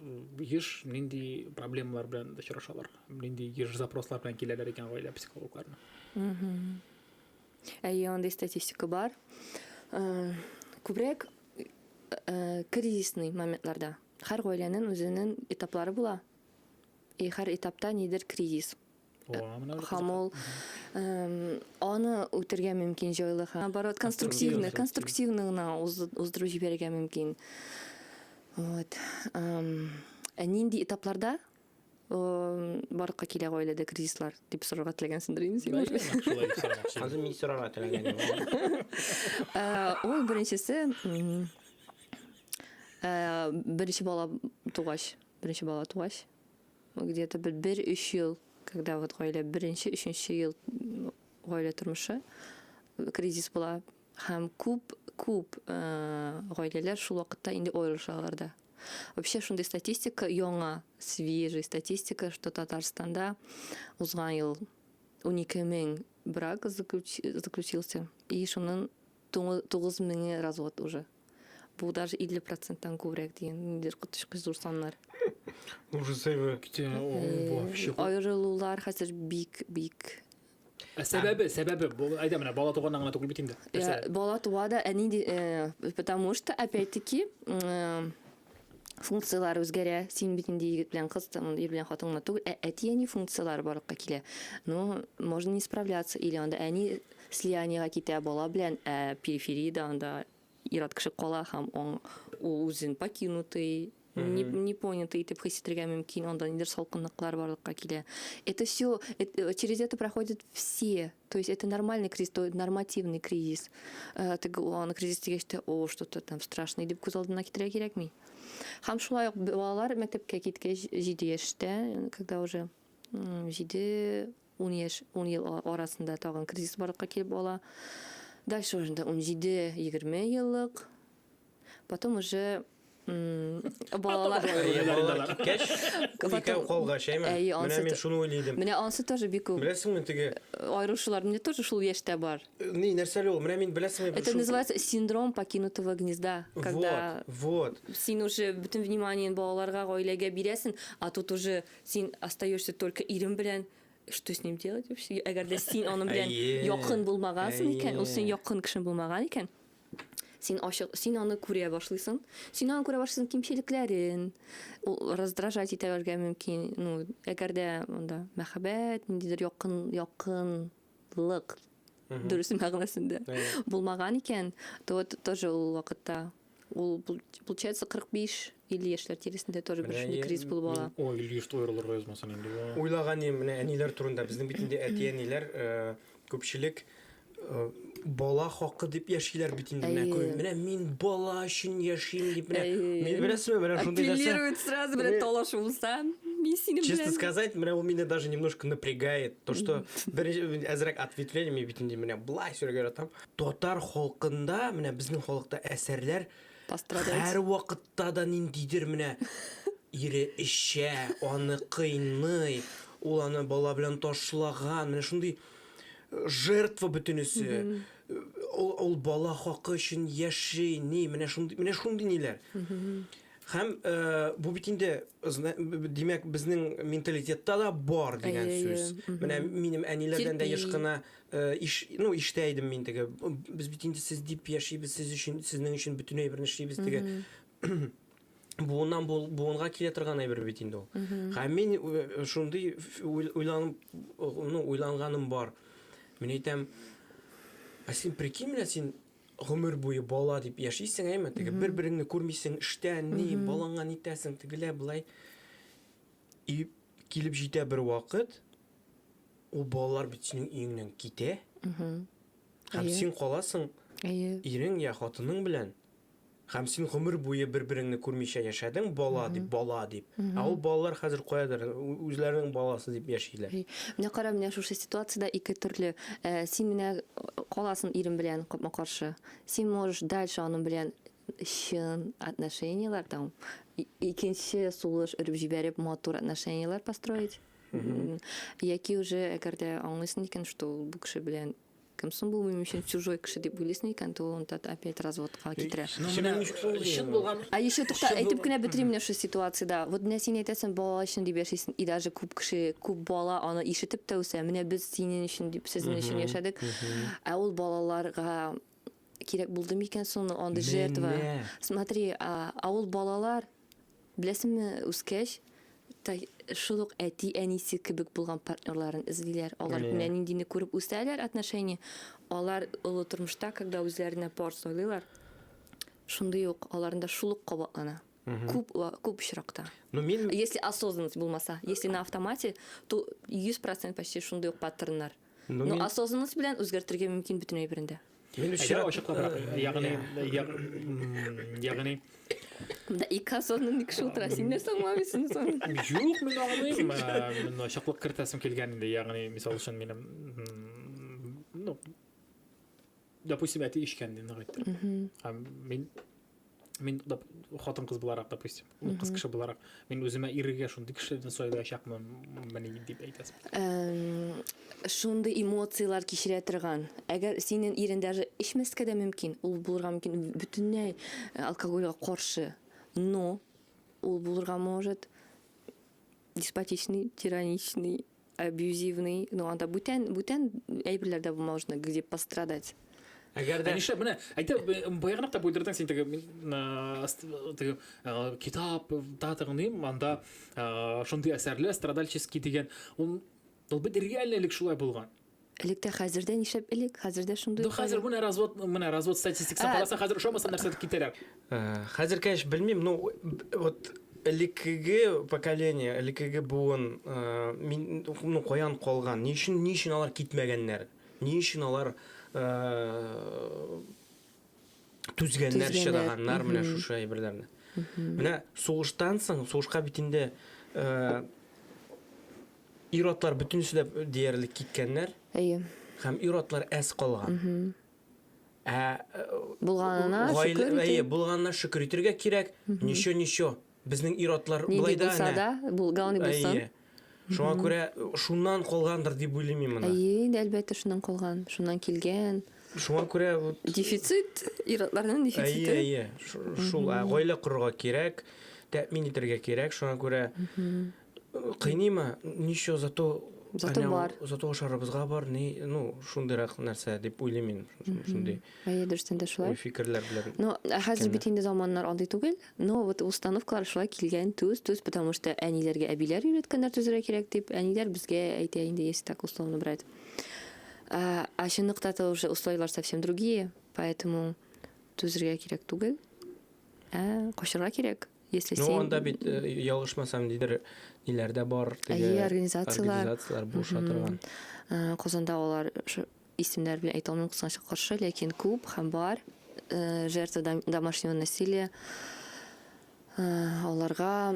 еш нинди проблемалар белән очрашалар? Нинди еш запрослар белән киләләр икән гаилә психологларына? Әйе, андый статистика бар. Э, күбрәк э, кризисный моментларда. Һәр гаиләнең үзенең этаплары була. И һәр этапта нидер кризис. Һәм ул аны үтергә мөмкин җайлы һәм наоборот конструктивный, конструктивный гына уздыру җибәрергә мөмкин. Вот. Ә нинди этапларда барлыкка килә гаиләдә кризислар дип сорарга теләгәнсеңдер инде син уже хәзер мин сорарга теләгән ул беренчесе беренче бала тугач беренче бала тугач где то бер бер өч ел когда вот гаилә беренче өченче ел гаилә тормышы кризис була һәм күп күп гаиләләр шул вакытта инде аерылышалар да Вообще шундый статистика яңа, свежий статистика, что Татарстанда узган ел 12 мең брак заключился, и шунын 9 меңе развод уже. Бу даже 50 проценттан күбрәк дигән, нидер котышкы зур саннар. Уже сәйбә китә, вообще. Аерылулар хәзер бик-бик Ә сәбәбе, сәбәбе, бу әйдә менә бала туганнан гына түгел бит инде. Я, бала туа да, әни ди- э, потому что опять-таки э, функцияләр үзгәрә. Син бит инде егет белән кыз, там, ир белән хатын гына түгел, ә әти-әни функцияләре барлыкка килә. Ну, можно не справляться или анда әни слияниегә китә бала белән, ә перифериядә анда Ир-ат кеше кала һәм ул үзен покинутый, непонятый итеп хис итергә мөмкин, анда нидер салкынлыклар барлыкка килә. Это все, э, через это проходят все. То есть это нормальный кризис, то нормативный кризис. Э, теге аны кризис дигәч тә, о, что-то там страшное дип күз алдына китерә кирәкми. Һәм шулай ук балалар мәктәпкә киткәч 7 яшьтә, когда уже 7 Ун яшь, ун ел арасында тагын кризис барлыкка килеп ала. Дальше уже инде унҗиде, егерме еллык. Потом уже балалар балалар киткәч, икәү калгач, әйме? Менә мин шуны уйлый идем. Менә ансы тоже бик күп. Беләсеңме теге? Аерылышулар менә тоже шул яшьтә бар. Ни, нәрсә ул? Менә мин беләсеңме? Это называется синдром покинутого гнезда, когда Вот, вот. Син уже бөтен вниманиен балаларга, гаиләгә бирәсең, а тут уже Син остаешься только ирем белән, что с ним делать вообще? Әгәр дә син аның белән Әйе. якын булмагансың икән, Әйе. ул синең якын кешең булмаган икән, син ачык, син аны күрә башлыйсың, син аны күрә башлыйсың кимчелекләрен, ул раздражать итәргә мөмкин, ну, әгәр дә монда мәхәббәт, ниндидер якын, якын җаваплылык дөрес мәгънәсендә булмаган икән, то вот тоже ул вакытта ул получается 45 50 яшьләр тирәсендә тоже бер шундый кризис булып ала. Ой, или что уйрылырга язмасын инде. Уйлаган идем менә әниләр турында. Безнең бит инде әти-әниләр э, күпчелек э, бала хакы дип яшиләр бит инде. Менә күр, менә мин бала өчен яшим дип менә. Мин беләсезме, менә шундый нәрсә. Апеллирует сразу белән талашуылса. Мин синең белән. Честно сказать, менә ул мине даже немножко напрягает. То, что беренче әзрәк ответвление мин бит инде менә былай сөйләргә яратам. Татар халкында, менә безнең халыкта әсәрләр һәр вакытта да ниндидер менә ире эчә, аны кыйный, ул аны бала белән ташлаган, менә шундый э, жертва бөтенесе. Ул, ул бала хакы өчен яши, ни, менә шундый, менә шундый ниләр. Һәм бу бит инде, димәк, безнең менталитетта да бар дигән сүз. Менә минем әниләрдән дә еш кына иш, ну, иштә идем мин теге. Без бит инде сез дип яшибез, сез өчен, сезнең өчен бөтенләй бер эшлибез теге. Буыннан буынга килә торган әйбер бит инде ул. Һәм мин шундый уйланып, ну, уйланганым бар. Мин әйтәм, ә син прикинь, менә син гомер буе бала дип яшисең, әйме, теге бер-береңне күрмисең, эштән ни, балаңа нитәсең, тегелә былай. И килеп җитә бер вакыт, ул балалар бит синең өеңнән китә. Һәм син каласың, ирең я хатының белән. Һәм син гомер буе бер-береңне күрмичә яшәдең, бала дип, бала дип. Ә ул балалар хәзер каядыр, үзләренең баласы дип яшиләр. Менә кара, менә шушы ситуациядә ике төрле. Син менә каласың ирең белән капма-каршы. Син можешь дальше аның белән чын отношениеләр, там, икенче сулыш өреп җибәреп, матур отношениеләр построить. Яки уже әгәр дә аңлыйсың икән, что ул бу кеше белән Кем соң бу минем өчен чужой кеше дип уйлыйсың икән, то ул тот опять разводка китерә. Ну менә чын булган. А еще тукта, әйтеп кенә бетерим менә шушы ситуациядә. Вот менә син әйтәсең, балалар өчен дип яшисең, и даже күп кеше, күп бала аны ишетеп тә үсә, менә без синең өчен дип, сезнең өчен яшәдек. Ә ул балаларга кирәк булды микән соң андый жертва? Смотри, а ул балалар Беләсеңме, үскәч та шул ук әти-әнисе кебек булган партнерларын эзлиләр. Алар Әйе. менә ниндине күреп үсәләр, отношения. Алар олы тормышта, когда үзләренә пар сайлыйлар, шундый ук аларында шул ук кабатлана. Күп ва- күп очракта. Ну, мин Если осознанность булмаса, если на автомате, то 100% почти шундый ук паттерннар. Ну, Но мин- осознанность белән үзгәртергә мөмкин бөтен әйберен дә. Әгәр ачыклабрак, ягъни, ягъни Монда ике асылны ник шул тора? Син нәрсә аңламыйсың соң? Юк, мин аңлыйм. Мин ачыклык кертәсем килгән инде. Ягъни, мисал өчен минем ну, допустим, әти эчкән дип нык әйтте. Һәм мин мин хатын кыз буларак допустим ул кыз кеше буларак мин үземә ирегә шундый кешеләрдән сайлаячакмын мени дип әйтәсең шундый эмоцияләр кичерә торган әгәр синең ирең даже эчмәскә дә мөмкин ул булырга мөмкин бөтенләй э, алкогольгә каршы но ул булырга может деспотичный тираничный абьюзивный, ну анда бүтән бүтән әйберләр дә булмау өчен где пострадать. Әгәр дә нишләп менә әйтә баягына кап уйдырдың син теге теге китап та тыңлыйм, анда шундый әсәрле страдальческий дигән ул ул бит реальный элек шулай булган. Элек тә хәзер дә нишләп элек? Хәзер дә шундый. Ду хәзер менә развод, менә развод статистикасын караса, хәзер ошамаса нәрсә дип китәләр. Хәзер кәш белмим, ну вот элеккеге поколение, элеккеге буын мин ну каян калган, ни өчен, ни өчен алар китмәгәннәр? Ни өчен алар түзгәннәр, чыдаганнар менә шушы әйберләрне? Менә сугыштан соң, сугышка бит инде Ир-атлар бөтенесе дә диярлек киткәннәр. Әйе. Һәм ир-атлар әз калган. Ә булганына шөкер итә. Әйе, булганына шөкер итергә кирәк. Ничо, ничо. Безнең ир-атлар болай да әнә. Да, булган булсын. Әйе. Шуңа күрә шуннан калгандыр дип уйлыйм мин моны. Әйе, инде әлбәттә шуннан калган, шуннан килгән. Шуңа күрә дефицит, ир-атларның дефициты. Әйе, әйе. Шул, гаилә корырга кирәк, тәэмин итәргә кирәк. Шуңа күрә Кыйныйма, ничего, зато Зато Әнә, бар. Зато ашарыбызга бар, ни, ну, шундыйрак нәрсә дип уйлыйм мин. Шундый. Әйе, дөрестән дә шулай. Фикерләр белән. Ну, ә хәзер бит инде заманнар андый түгел. Но вот установкалар шулай килгән, төз, төз, потому что әниләргә әбиләр өйрәткәннәр төзергә кирәк дип, әниләр безгә әйтә инде, если так условно брать. А, а чынлыкта-то уже условияләр совсем другие, поэтому төзергә кирәк түгел. Ә, качырга кирәк. Если ну, син... анда бит, э, ялгышмасам, нидер, ниләр дә бар, теге... Әйе, организациялар. Организациялар буша торган. Э, Козанда алар исемнәр белән әйтә алмыйм, кызганычка каршы, ләкин күп һәм бар э, жертва домашнего насилия. Аларга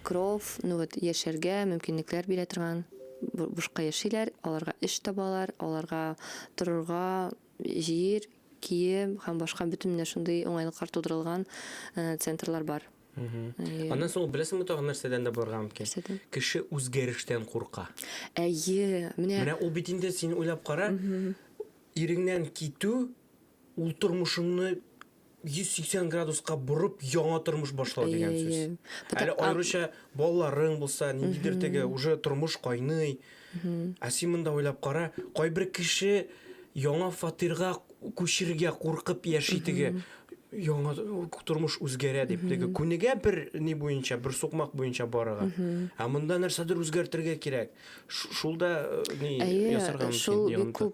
кров, ну вот, яшәргә мөмкинлекләр бирә торган бушка яшиләр, аларга эш табалар, аларга торырга Җир, кием һәм башка бөтен менә шундый уңайлыклар тудырылган центрлар бар. Аннан соң беләсеңме тагын нәрсәдән дә булырга мөмкин? Нәрсәдән? Кеше үзгәрештән курка. Әйе, менә. Менә ул бит инде син уйлап кара, иреңнән китү, ул тормышыңны 180 градуска борып яңа тормыш башлау дигән Әйе, сүз. әйе. Бу так- Әле аеруча балаларың булса, ниндидер теге уже тормыш кайный. Ә син монда уйлап кара, кайбер кеше яңа фатирга күчергә куркып яши теге яңа тормыш үзгәрә дип теге күнегә бер ни буенча, бер сукмак буенча барырга. Ә монда нәрсәдер үзгәртергә кирәк. Ш- Шул да э, ни Әйе, ясарга мөмкин. шул бик ягымлы. күп.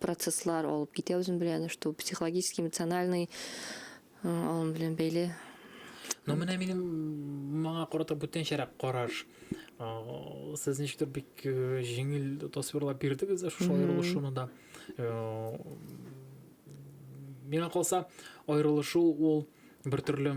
процесслар алып китә үзем белән, что психологически, эмоциональный алым белән бәйле. Но менә минем моңа карата бүтәнчәрәк караш. Сез ничектер бик җиңел тасвирлап бирдегез шушы аерылышуны да. Миңа калса, аерылышу ул бер төрле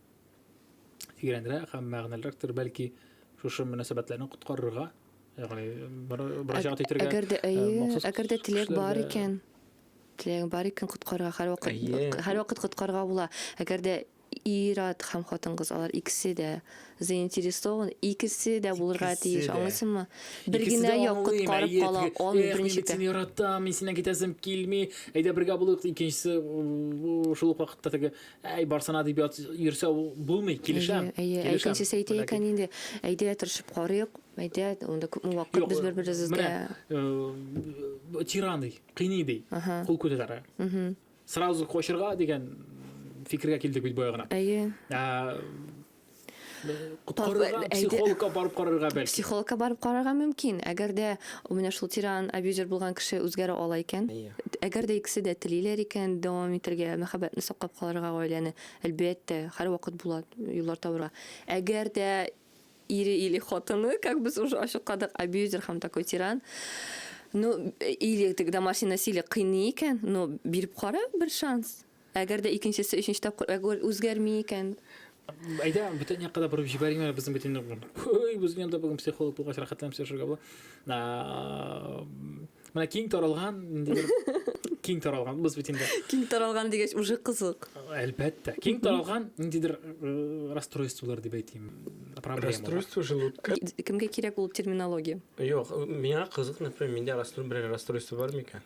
тирәнрәк һәм мәгънәлерәктер, бәлки шушы мөнәсәбәтләрне коткарырга, ягъни мөрәҗәгать итәргә. Әгәр дә әйе, әгәр дә теләк бар икән, теләк бар икән коткарырга һәрвакыт һәрвакыт коткарырга була. Әгәр дә ир-ат һәм хатын-кыз алар икесе дә заинтересован, икесе дә булырга тиеш, аңлыйсыңмы? Бер генә як коткарып кала алмый беренче тә. Мин яратам, мин синнән китәсем килми, әйдә бергә булыйк, икенчесе шул ук вакытта теге Әй, барсына дип ят йөрсә булмый, килешәм. Әйе, әйе, икенче сәйти икән инде. Әйдә, тырышып карыйк. Әйдә, анда күпме вакыт без бер-беребезгә. Э, тиран ди, кыйный ди. Кул күтәрә. Сразу кочырга дигән фикергә килдек бит бая гына. Әйе. Ә, Коткарырга, психологка барып карарга бәлки. Психологка барып карарга мөмкин. Әгәр дә менә шул тиран абьюзер булган кеше үзгәрә ала икән, әгәр дә икесе дә телиләр икән дәвам итәргә, мәхәббәтне саклап калырга гаиләне, әлбәттә, һәрвакыт була юллар табарга. Әгәр дә ире или хатыны, как без уже ачыкладык, абьюзер һәм такой тиран, ну, или теге домашний насилие кыйный икән, ну, биреп кара бер шанс. Әгәр дә икенчесе өченче тапкыр әгүр үзгәрми икән? Әйдә, бөтен якка да борып җибәрим әле безнең бөтен Ой, безнең янда бүген психолог булгач рәхәтләнеп сөйләшергә була. Менә киң таралган, ниндидер киң таралган без бит инде. Киң таралган дигәч уже кызык. Әлбәттә. Киң таралган ниндидер э, расстройстволар дип әйтим. Проблема. Расстройство желудка. Кемгә кирәк ул терминология? Юк, миңа кызык, например, миндә расстройство, бер расстройство бар микән?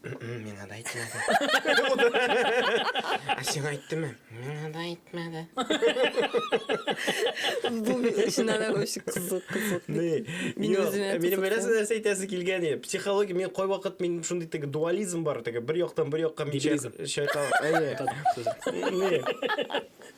Миңа да әйтмәде. Ә сиңа әйттеме? Миңа да әйтмәде. Бу чыннан да очень кызык, кызык. Ни? Мин Юк, үземә Минем кызык бераз нәрсә әйтәсе килгән иде. Психология, мин кай вакыт мин шундый теге дуализм бар, теге бер яктан бер якка мин Нигилизм. чайка- чайкал. Әйе. Ни?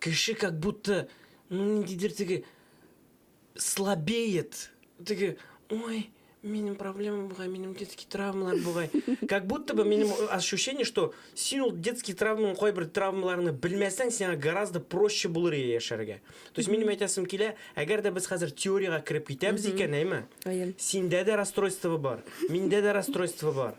Кеше как будто, ну, ниндидер теге слабеет. Теге, ой, минем проблема бугай, минем детский травмалар бугай. Как будто бы минем ощущение, что син ул детский травманың кайбер травмаларны белмәсәң, сиңа гораздо проще булыр иде яшәргә. То есть минем әйтәсем килә, әгәр дә без хәзер теориягә кереп китәбез икән, әйме? Синдә дә расстройство бар, миндә дә расстройство бар.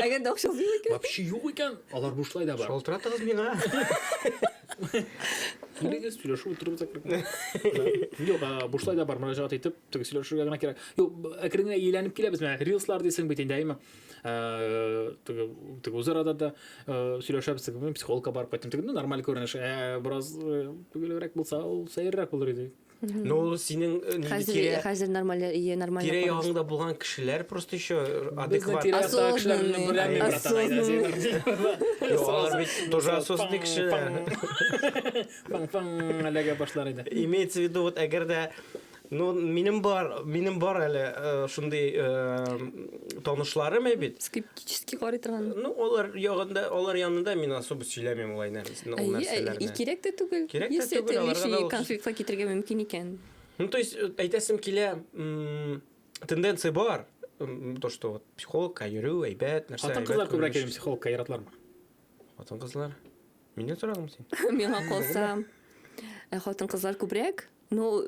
Әгәр дә акчасы юк икән. Вообще юк икән, алар бушлай да бар. Шалтыратыгыз миңа. Килегез, сөйләшү утырып закрыгына. Юк, бушлай да бар, мөрәҗәгать итеп, теге сөйләшергә генә кирәк. Юк, әкрен генә ияләнеп киләбез менә. Рилслар дисең бит инде, әйме? Теге теге үзарада да сөйләшәбез, теге психологка барып кайттым. Теге нормаль күренеш. Ә бераз төгелрәк булса, ул сәеррәк булыр иде. Ну, ул синең э, нинди Хәзер тирә хәзер нормаль ие нормаль. тирә ягыңда булган кешеләр просто еще адекват. тирә- Осознанный. кешеләр белән берләми, братан, Осознанный. әйдә, син артист. Юк, алар бит тоже осознанный кешеләр. Паң-паң әлегә башлар иде. Имеется в виду, вот әгәр дә Ну, минем бар, минем бар әле э, шундый э, танышларым бит. Скептик. скептически карый торган. Ну, алар ягында, алар янында мин особо сөйләмим ул нәрсә, нәрсәне, ул нәрсәләрне. Кирәк тә түгел. Кирәк тә түгел, аларга да конфликтка китергә мөмкин икән. Ну, то есть, э, әйтәсем килә, тенденция бар, то, что вот психологка йөрү, әйбәт, нәрсә. Хатын кызлар күбрәк йөрү психологка яратлармы? Хатын кызлар. Мине сорадың син. Миңа калса, э, хатын кызлар күбрәк, Ну,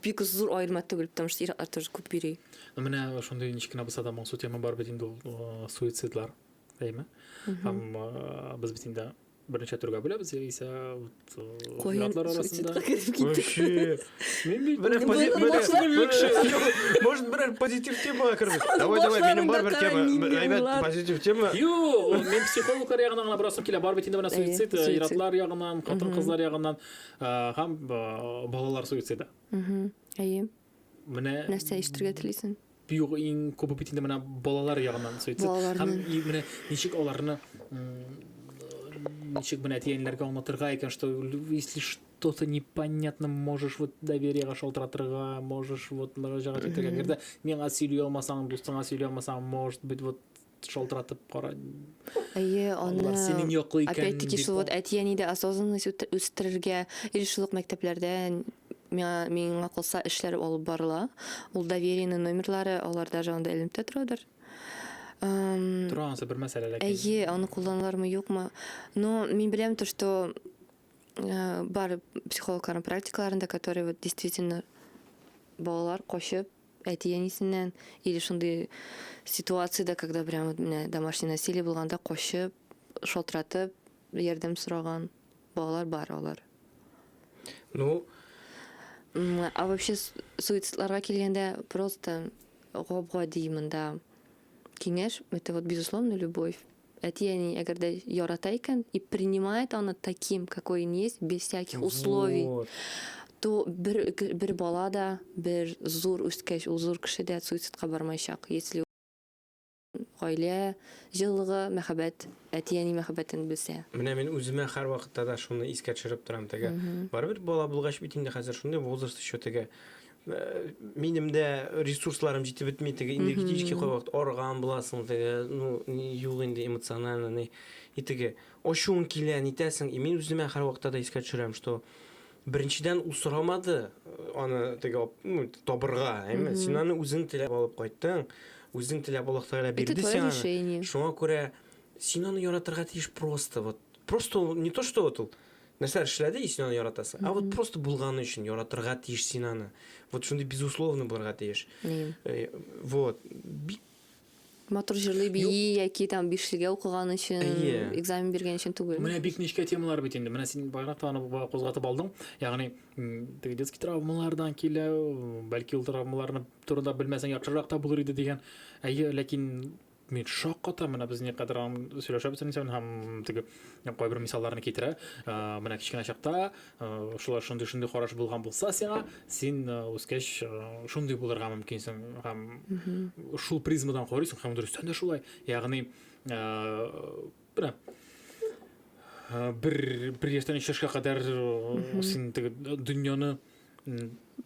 бик зур аерма түгел, потому что ир-атлар тоже күп йөри. Ну, менә шундый ничек кенә булса да моңсу тема бар бит инде ул суицидлар, әйме? Һәм без бит инде берничә төргә бүләбез яисә вот ир-атлар арасында. Вообще. Мин бит бер позитив. Может, бер позитив тема кердек. Давай, давай, минем бар бер тема. Әйбәт позитив тема. Юк, мин психологлар ягына гына барасым килә. Бар бит инде менә суицид, ир-атлар ягыннан, хатын-кызлар ягыннан. һәм балалар суициды әйе менә нәрсә ишетергә телисең югы иң күп бит инде менә балалар ягыннан суицид һәм менә ничек аларны ничек менә әтиәниләргә аңлатырга икән что если что-то непонятно можешь вот довериега шалтыратырга можешь вот мөрәҗәгать итәргә әгәр дә миңа сөйли алмасаң дустыңа сөйли алмасаң может быть вот шалтыратып кара. Әйе, аны синең яклы икән. Опять-таки шул вот әти-әнидә осознанность үстерергә, или шул ук мәктәпләрдә миңа калса эшләр алып барыла. Ул доверенный номерлары алар даже анда эленеп тә торадыр. Тора анысы бер мәсьәлә ләкин. Әйе, аны кулланалармы, юкмы? Но мин беләм то, что э, бар психологларның практикаларында, которые вот действительно балалар кочып Әти-әнисеннән, или шундый ситуациядә, когда прям вот менә домашний насилие булганда качып, шалтыратып ярдәм сораган балалар бар алар. Ну, М, А вообще с- суицидларга килгәндә просто гап-гади монда киңәш, это вот безусловно любовь. Әти-әни әгәр дә ярата икән и принимает аны таким, какой он есть, без всяких условий, Вот. то бер, бер бала да, бер зур үскәч, ул зур кеше дә суицидка бармаячак. Если гаилә җылылыгы, мәхәббәт, әти-әни мәхәббәтен белсә. Менә мин үземә һәрвакытта да шуны искә төшереп торам теге. Мгм. Барыбер бала булгач бит инде хәзер шундый возраст еще теге. Э, минем дә ресурсларым җитеп бетми теге энергетический кайвакыт арган буласың теге ну юк инде эмоционально ни и теге ачуың килә нитәсең и мин үземә һәрвакытта да искә төшерәм что беренчедән ул сорамады э, аны теге ну табырга әйме син аны үзең теләп алып кайттың үзең теләп аллаһ тәгалә бирде сиңа шуңа күрә син аны яратырга тиеш просто вот просто не то что вот ул нәрсәләр эшләде и син аны яратасың ә вот просто булганы өчен яратырга тиеш син аны вот шундый безусловно булырга тиеш э, вот бик матур җырлый бии яки там бишлегә укыган өчен экзамен биргән өчен түгел менә бик нечкә темалар бит инде менә син байрак та аны кузгатып алдың ягъни теге детский травмалардан килә бәлки ул травмаларны турында белмәсәң яхшырак та булыр иде дигән әйе ләкин мин шок катам, менә без никадәр сөйләшәбез инде һәм теге кайбер мисалларны китерә. Менә кечкенә чакта шулар шундый шундый караш булган булса сиңа, син үскәч шундый булырга мөмкинсең һәм шул призмадан карыйсың һәм дөрестән дә шулай. Ягъни бер бер яшьтән өч яшькә кадәр син теге дөньяны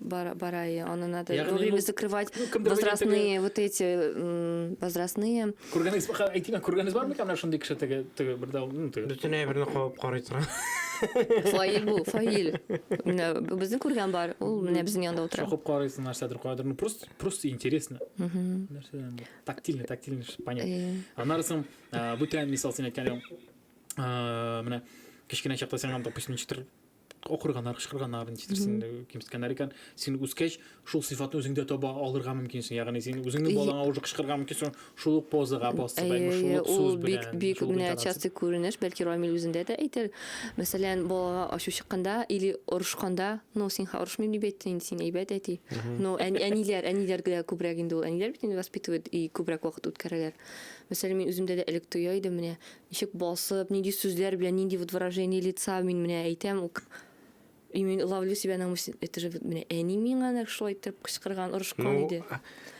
Бара, бара, и она надо Ягни, вовремя ну, закрывать ну, возрастные, вот эти, возрастные. Күргәнегез, әйтимә, күргәнегез бармы икән менә шундый кеше теге, теге бер дау, ну, теге. Бөтенләй берне кабып карый тора. Фаил бу, Фаил. Менә безне күргән бар, ул менә безнең янда утыра. Шакып карыйсың, нәрсәдер куядыр, ну, просто, просто интересно. Нәрсәдән? Тактильно, тактильно, понятно. Э. Аннары соң, бүтән мисал син әйткән, менә кечкенә чакта сиңа, допустим, ничектер акырганнар кычкырганнар ничетерсең кимсеткәннәр икән син үскәч шул сыйфатны үзеңдә таба алырга мөмкинсең ягъни син үзеңнең балаңа уже кычкырырга мөмкинсең шул ук позага басып әйме шул ук сүз белән бик бик менә частый күренеш бәлки рамил үзендә дә әйтер мәсәлән балага ачу чыкканда или орышканда ну синха орышмыйм дип әйтте инде син әйбәт әти но әниләр әниләргә күбрәк инде ул әниләр бит инде воспитывает и күбрәк вакыт үткәрәләр мәсәлән мин үземдә дә элек тоя идем менә Ничек басып, нинди сүзләр белән, нинди вот выражение лица мин менә әйтәм, ук и мин ловлю себя на мысли, это же вот менә әни миңа нәкъ шулай итеп кычкырган, орышкан Ну, иде.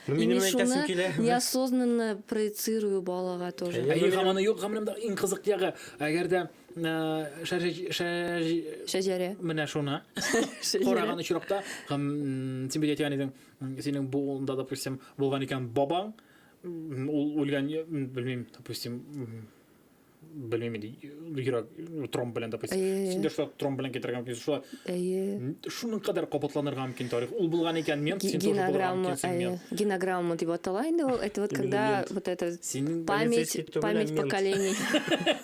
ну И минем мин әйтәсем шуны килә. неосознанно проецирую балага тоже. Әйе. Әйе, һаман юк, гомеремдә иң кызык ягы. Әгәр дә э, шәҗә- шәҗ- Шәҗәрә. менә шуны Шәҗәрә. караган очракта, һәм м, син бит әйтгән идең, м, синең буында, допустим, булган икән бабаң, Ул үлгән, белмим, допустим, белмим инде йөрәк тромб белән допустим син дә шулай тромб белән китерергә мөмкин шулай әйе шуның кадәр кабатланырга мөмкин тарих ул булган икән мен син тоже булырга мөмкинсең генограмма дип атала инде ул это вот когда вот это память память поколений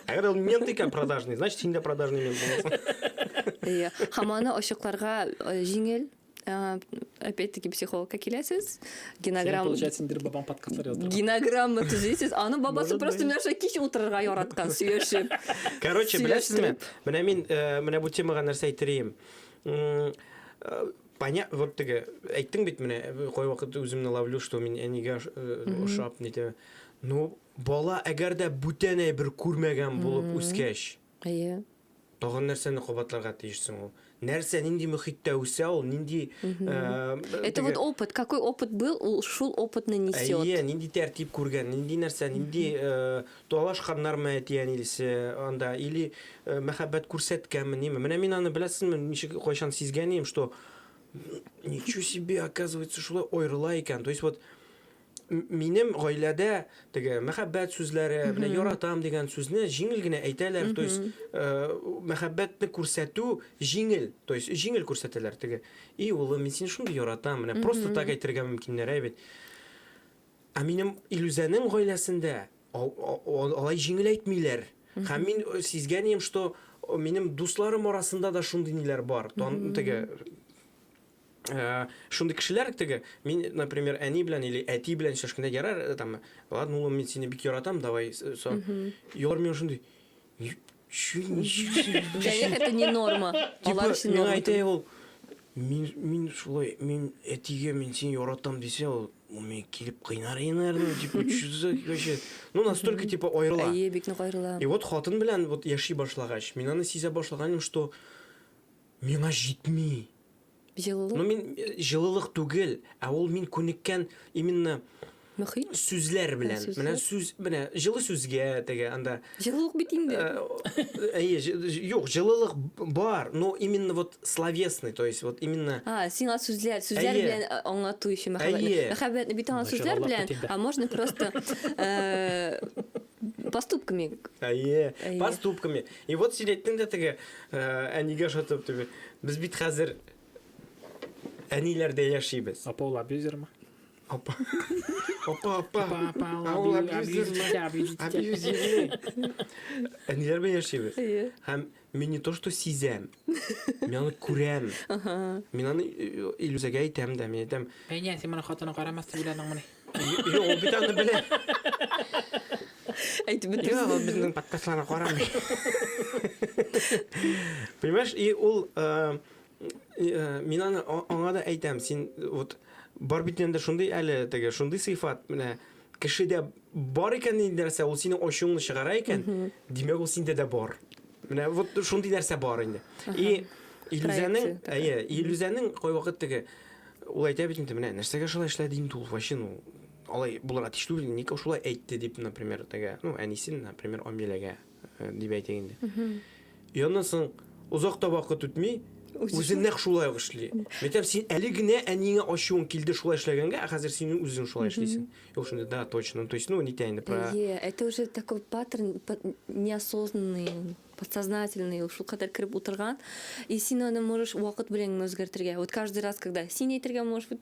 әгәр ул мент икән продажный значит син дә продажный мент буласың иә һәм аны ачыкларга э, җиңел Э, опять-таки психологка киләсез. Генограмма... получается, ниндидер бабаң подкастлар яздырган. Генограмма төзисез. Аның бабасы просто Миша кич утырырга яраткан, сөйләшеп. Короче, беләсезме? Менә мин, э, менә бу темага нәрсә әйтер идем. Э, Поня... Вот теге, әйттең бит менә, кой вакыт үземне ловлю, что мин әнигә ошап, нитә. Ну, бала әгәр дә бүтән әйбер күрмәгән булып үскәч, Әйе. Тагын нәрсәне кабатларга тиеш соң ул? Нәрсә, нинди мөхиттә үсә ул, нинди... Это вот опыт, какой опыт был, ул шул опытны несет. Әйе, нинди тәртип күргән, нинди нәрсә, нинди талашканнармы әти-әнисе анда, или мәхәббәт күрсәткәнме, ниме. Менә мин аны, беләсезме, ничек, кайчан сизгән идем, что ничего себе, оказывается, шулай аерыла икән. То есть вот Минем гаиләдә теге мәхәббәт сүзләре, менә яратам дигән сүзне җиңел генә әйтәләр, то есть э, мәхәббәтне күрсәтү җиңел, то есть җиңел күрсәтәләр теге. И улым, мин сине шундый яратам, менә просто так әйтергә мөмкиннәр әй бит. Ә минем Илүзәнең гаиләсендә ал- а- а- алай җиңел әйтмиләр. Һәм мин э, сизгәнем, что э, минем дусларым арасында да шундый ниләр бар. Тан, теге Шундый кешеләр теге, мин, например, әни белән или әти белән сөйләшкәндә ярар, там, ладно, улым, мин сине бик яратам, давай, со. Юлар миңа шундый, чү, ничек Это не норма. Алар өчен норма. Мин әйтә ул, мин, мин шулай, мин әтигә мин сине яратам дисә, ул, ул миңа килеп кыйнар иде, наверное, типа, чүзә, короче. Ну, настолько, типа, аерыла. Әйе, бик нык аерыла. И вот хатын белән вот яши башлагач, мин аны сизә башлаганым, что Миңа җитми. Җылылык. Ну мин җылылык түгел, ә ул мин күнеккән именно Мөхит? сүзләр белән. Ә, Менә сүзләр. сүз, менә җылы сүзгә теге анда. Җылылык бит инде. Э, о, Әйе, җы- җы- юк, җылылык б- бар, но именно вот словесный, то есть вот именно А, сиңа сүзләр, сүзләр Әйе. белән а, аңлату өчен мәхәббәтне. Әйе. Мәхәббәтне бит аңа Начар сүзләр Аллаһ белән, бит инде. а можно просто э, Поступками. Әйе, поступками. И вот син әйттең дә теге әнигә ошатып дип. Без бит хәзер әниләрдә яшибез. Апа ул абьюзермы? Апа. Апа, апа. Апа, апа, ул абьюзер. Абьюзер. Әниләр белән яшибез. Һәм Мин не то что сизәм, мин аны күрәм. Мин аны э, Илүзәгә әйтәм дә, мин әйтәм, Әйнә, син моны хатыны карамас дип уйладыңмыни? «Е, ул бит аны белә. Әйтеп Йә, бетерсен. ул безнең подкастларны карамый. Понимаешь, и ул э, э, мин аны а- аңа да әйтәм, син вот бар бит инде шундый әле теге, шундый сыйфат, менә Кешедә бар икән нинди нәрсә, ул синең ачуыңны чыгара икән, димәк ул синдә дә бар. Менә вот шундый нәрсә бар инде. И Илүзәнең, әйе, Илүзәнең кайвакыт теге ул әйтә бит инде, менә нәрсәгә шулай эшләде инде ул вообще, ну, алай булырга тиеш түгел, ник шулай әйтте дип, например, теге, ну, әнисен, например, Амиләгә э, дип әйтик инде. И аннан соң озак та вакыт үтми, үзе нәкъ шулай ук эшли. Мәктәп син әле генә әниеңә ачуың килде шулай эшләгәнгә, ә хәзер син үзең шулай эшлисең. Юк шунда да точно, то есть ну нитә инде про. Е, это уже такой паттерн неосознанный, подсознательный, шул кадәр кереп утырган. И син аны можешь вакыт белән үзгәртергә. Вот каждый раз, когда син әйтергә можешь быть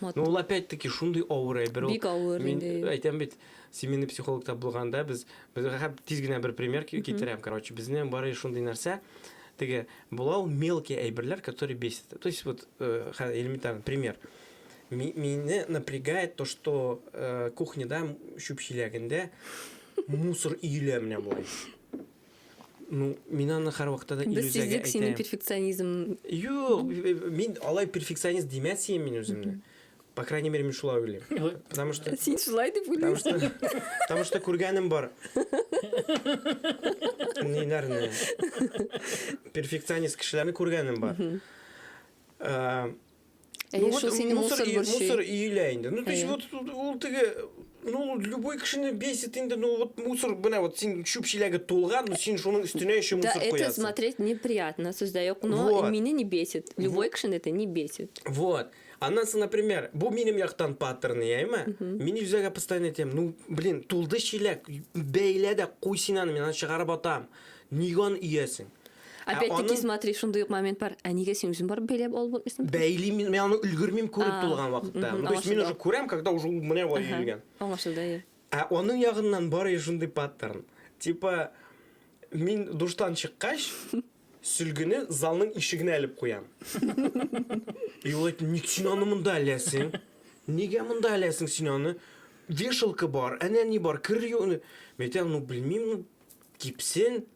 Ну ул опять таки шундый авыр әйбер ул. Бик авыр инде. Мин әйтәм бит, семейный психологта булганда без безгә тиз генә бер пример китерәм, короче, безнең бары шундый нәрсә, теге була ул мелкие әйберләр, которые бесит. То есть вот э, элементарный пример. Мине напрягает то, что э, кухняда чүп чиләгендә мусор иелә менә болай. Ну, мин аны һәрвакытта да Без иллюзиягә сиздек синең әйтәм. перфекционизм. Юк, б- б- мин алай перфекционист димәс идем мин үземне. По крайней мере, мин шулай уйлыйм. Потому что Син шулай дип Потому уйлыйсың. что, потому что күргәнем бар. Ниләрне? Перфекционист кешеләрне күргәнем бар. Э, Әйе, ну, шул сине мусор, мусор борчый. Мусор өелә инде. Ну, то есть, вот, ул теге, ну, любой кешене бесит инде, ну, вот мусор, менә вот син чүп чиләге тулган, ну, син шуның өстенә еще мусор куясың. Да, это смотреть неприятно, сүздә юк, но вот. меня не бесит. Любой вот. кешене это не бесит. Вот. Аннан соң, например, бу минем яктан паттерн, яйма. Мин үзәгә постоянно әйтәм, ну, блин, тулды чиләк, бәйлә дә куй син аны, мин аны чыгарып атам. Ниган иясең? Опять-таки, ә смотри, шундый ук момент бар. Ә нигә син үзең барып бәйләп алып булмыйсың? Бәйли мин, мин аны өлгермим күреп тулган вакытта. Ну, то есть мин уже күрәм, когда уже ул менә вай йөргән. Аңлашылды, әйе. Ә аның ягыннан бары шундый паттерн. Типа, мин душтан чыккач, сөлгене залның ишегенә элеп куям. И ул әйтә, ник син аны монда эләсең? Нигә монда эләсең син аны? Вешалка бар, әнә ни бар, кер юны. Мәйтәм, ну, белмим, ну, кипсен,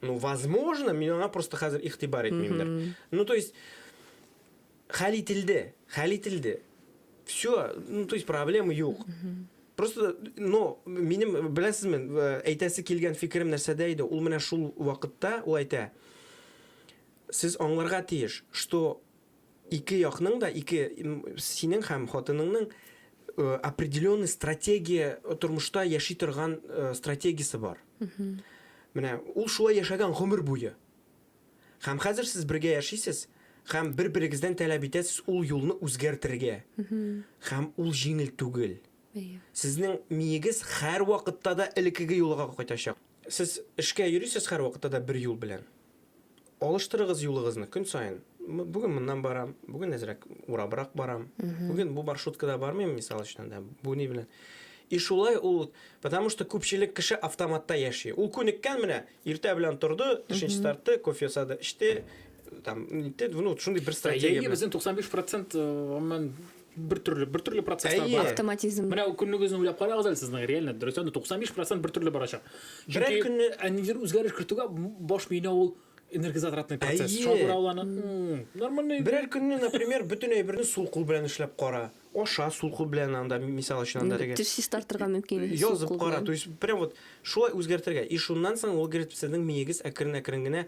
ну возможно мин аңа просто хәзер игътибар итмимдер ну то есть хәл ителде хәл ителде все ну то есть проблема юк просто но минем беләсезме э, әйтәсе килгән фикерем нәрсәдә иде ул менә шул вакытта ул әйтә сез аңларга тиеш что Ике якның да, ике, синең һәм хатыныңның определенный стратегия, тормышта яши торган стратегиясе бар. Менә ул шулай яшәгән гомер буе. Һәм хәзер сез бергә яшисез, һәм бер-берегездән таләп итәсез ул юлны үзгәртергә. Һәм ул җиңел түгел. Сезнең миегез һәрвакытта да элеккеге юлга кайтачак. Сез эшкә йөрисез һәрвакытта да бер юл белән. Алыштырыгыз юлыгызны көн саен. Бүген моннан барам, бүген әзрәк урабрак барам. Бүген бу маршруткада бармыйм, мисал өчен, да, бу ни белән. И шулай ул, потому что күпчелек кеше автоматта яши. Ул күнеккән менә, иртә белән торды, төшенче тартты, кофе ясады, эчте, там, нитте, ну, шундый бер стратегия. Әйе, безнең 95 процент, гомумән, бер төрле бер төрле процесслар бар. Автоматизм. Менә көннегезне уйлап карагыз әле сезнең реально дөрес анда 95% бер төрле барачак. Берәр көнне әнидер үзгәреш кертүгә баш миенә ул энергозатратный процесс. Шуңа күрә ул аны нормальный. Берәр көнне, например, бөтен әйберне сул кул белән эшләп кара. Аша сул кул белән анда мисал өчен анда теге. Теш чистартырга мөмкин. Язып кара. То есть прям вот шулай үзгәртергә. И шуннан соң ул говорит, сезнең миегез әкрен-әкрен генә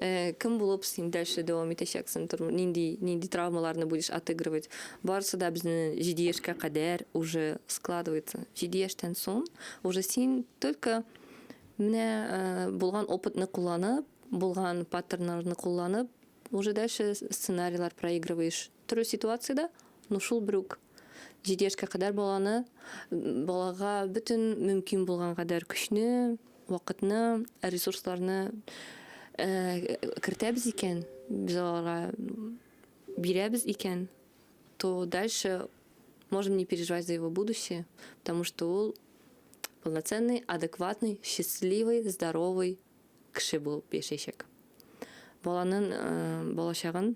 Э, кем булып син дальше дәвам итәчәксең тормыш нинди нинди травмаларны будешь отыгрывать барысы да безнең җиде яшькә кадәр уже складывается җиде яшьтән соң уже син только менә э, булган опытны кулланып булган паттернларны кулланып уже дальше сценарийлар проигрываешь Төрле ситуациядә, ну шул бер үк җиде яшькә кадәр баланы, балага бөтен мөмкин булган кадәр көчне, вакытны, ресурсларны кертәбез икән, без аларга бирәбез икән, то дальше можем не переживать за его будущее, потому что ул полноценный, адекватный, счастливый, здоровый кеше булып яшәячәк. Баланың балачагын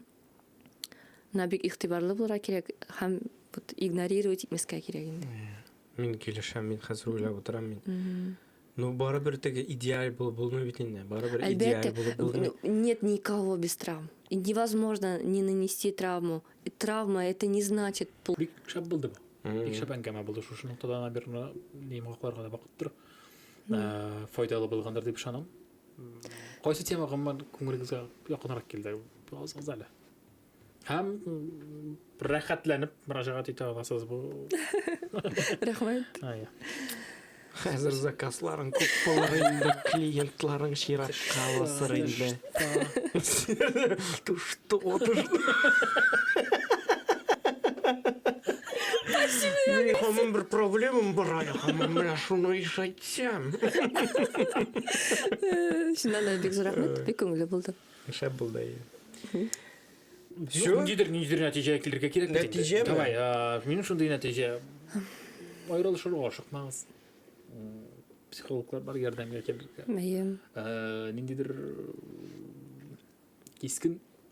На бик игътибарлы булырга кирәк һәм вот игнорировать итмәскә кирәк инде. Мин килешәм, мин хәзер уйлап утырам мин. Ну, барыбер теге идеаль булып булмый бит инде. Барыбер идеаль булып булмый. Нет никого без травм. И невозможно не нанести травму. И травма это не значит плохо. Бик шәп булды бу. Бик шәп әңгәмә булды. Шушы ноктадан бер йомгакларга да бакып тор. Файдалы булгандыр дип ышанам. Кайсы тема гомумән күңелегезгә якынрак килде? Языгыз әле. Һәм рәхәтләнеп мөрәҗәгать итә аласыз бу. Рәхмәт. Ая. Хәзер заказларың күп булыр инде, клиентларың чиратка басыр инде. Тушты, отышты. Мин хамын бер проблемам бар әле, хамын менә шуны ишәйт. Сям! Шуннан да бик зур рәхмәт, бик күңелле булды. Шәп булды. Все? Ниндидер, ниндидер нәтиҗә килергә кирәк. Нәтиҗәме? Давай, минем шундый нәтиҗә. Аерылышырга ашыкмагыз. Психологлар бар ярдәмгә килергә. Мәем. Ниндидер кискен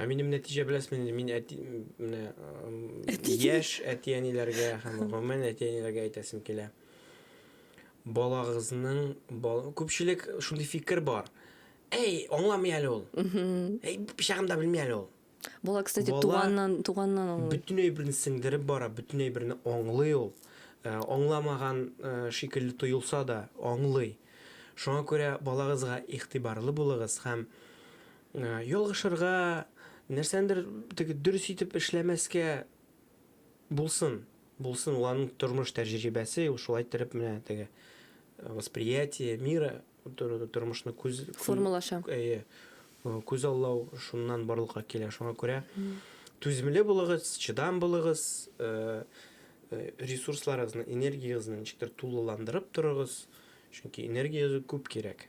Ә минем нәтиҗә беләсме инде, мин әти, менә яшь әти-әниләргә һәм гомумән әти-әниләргә әйтәсем килә. Балагызның бал... күпчелек шундый фикер бар. Әй, аңламый әле ул. Әй, пычагын да белми әле ул. Бала, кстати, Бала... туганнан, туганнан аңлый. Бөтен әйберне сеңдереп бара, бөтен әйберне аңлый ул. Ә, аңламаган ә, шикелле тоелса да, аңлый. Шуңа күрә балагызга игътибарлы булыгыз һәм Ялгышырга, нәрсәнедер теге дөрес итеп эшләмәскә булсын, булсын, ул аның тормыш тәҗрибәсе, ул шулай иттереп менә теге восприятие мира, тормышны күз, Формалаша. әйе, күзаллау шуннан барлыкка килә. Шуңа күрә түземле булыгыз, чыдам булыгыз, ресурсларыгызны, энергиягезне ничектер тулыландырып торыгыз, чөнки энергия күп кирәк.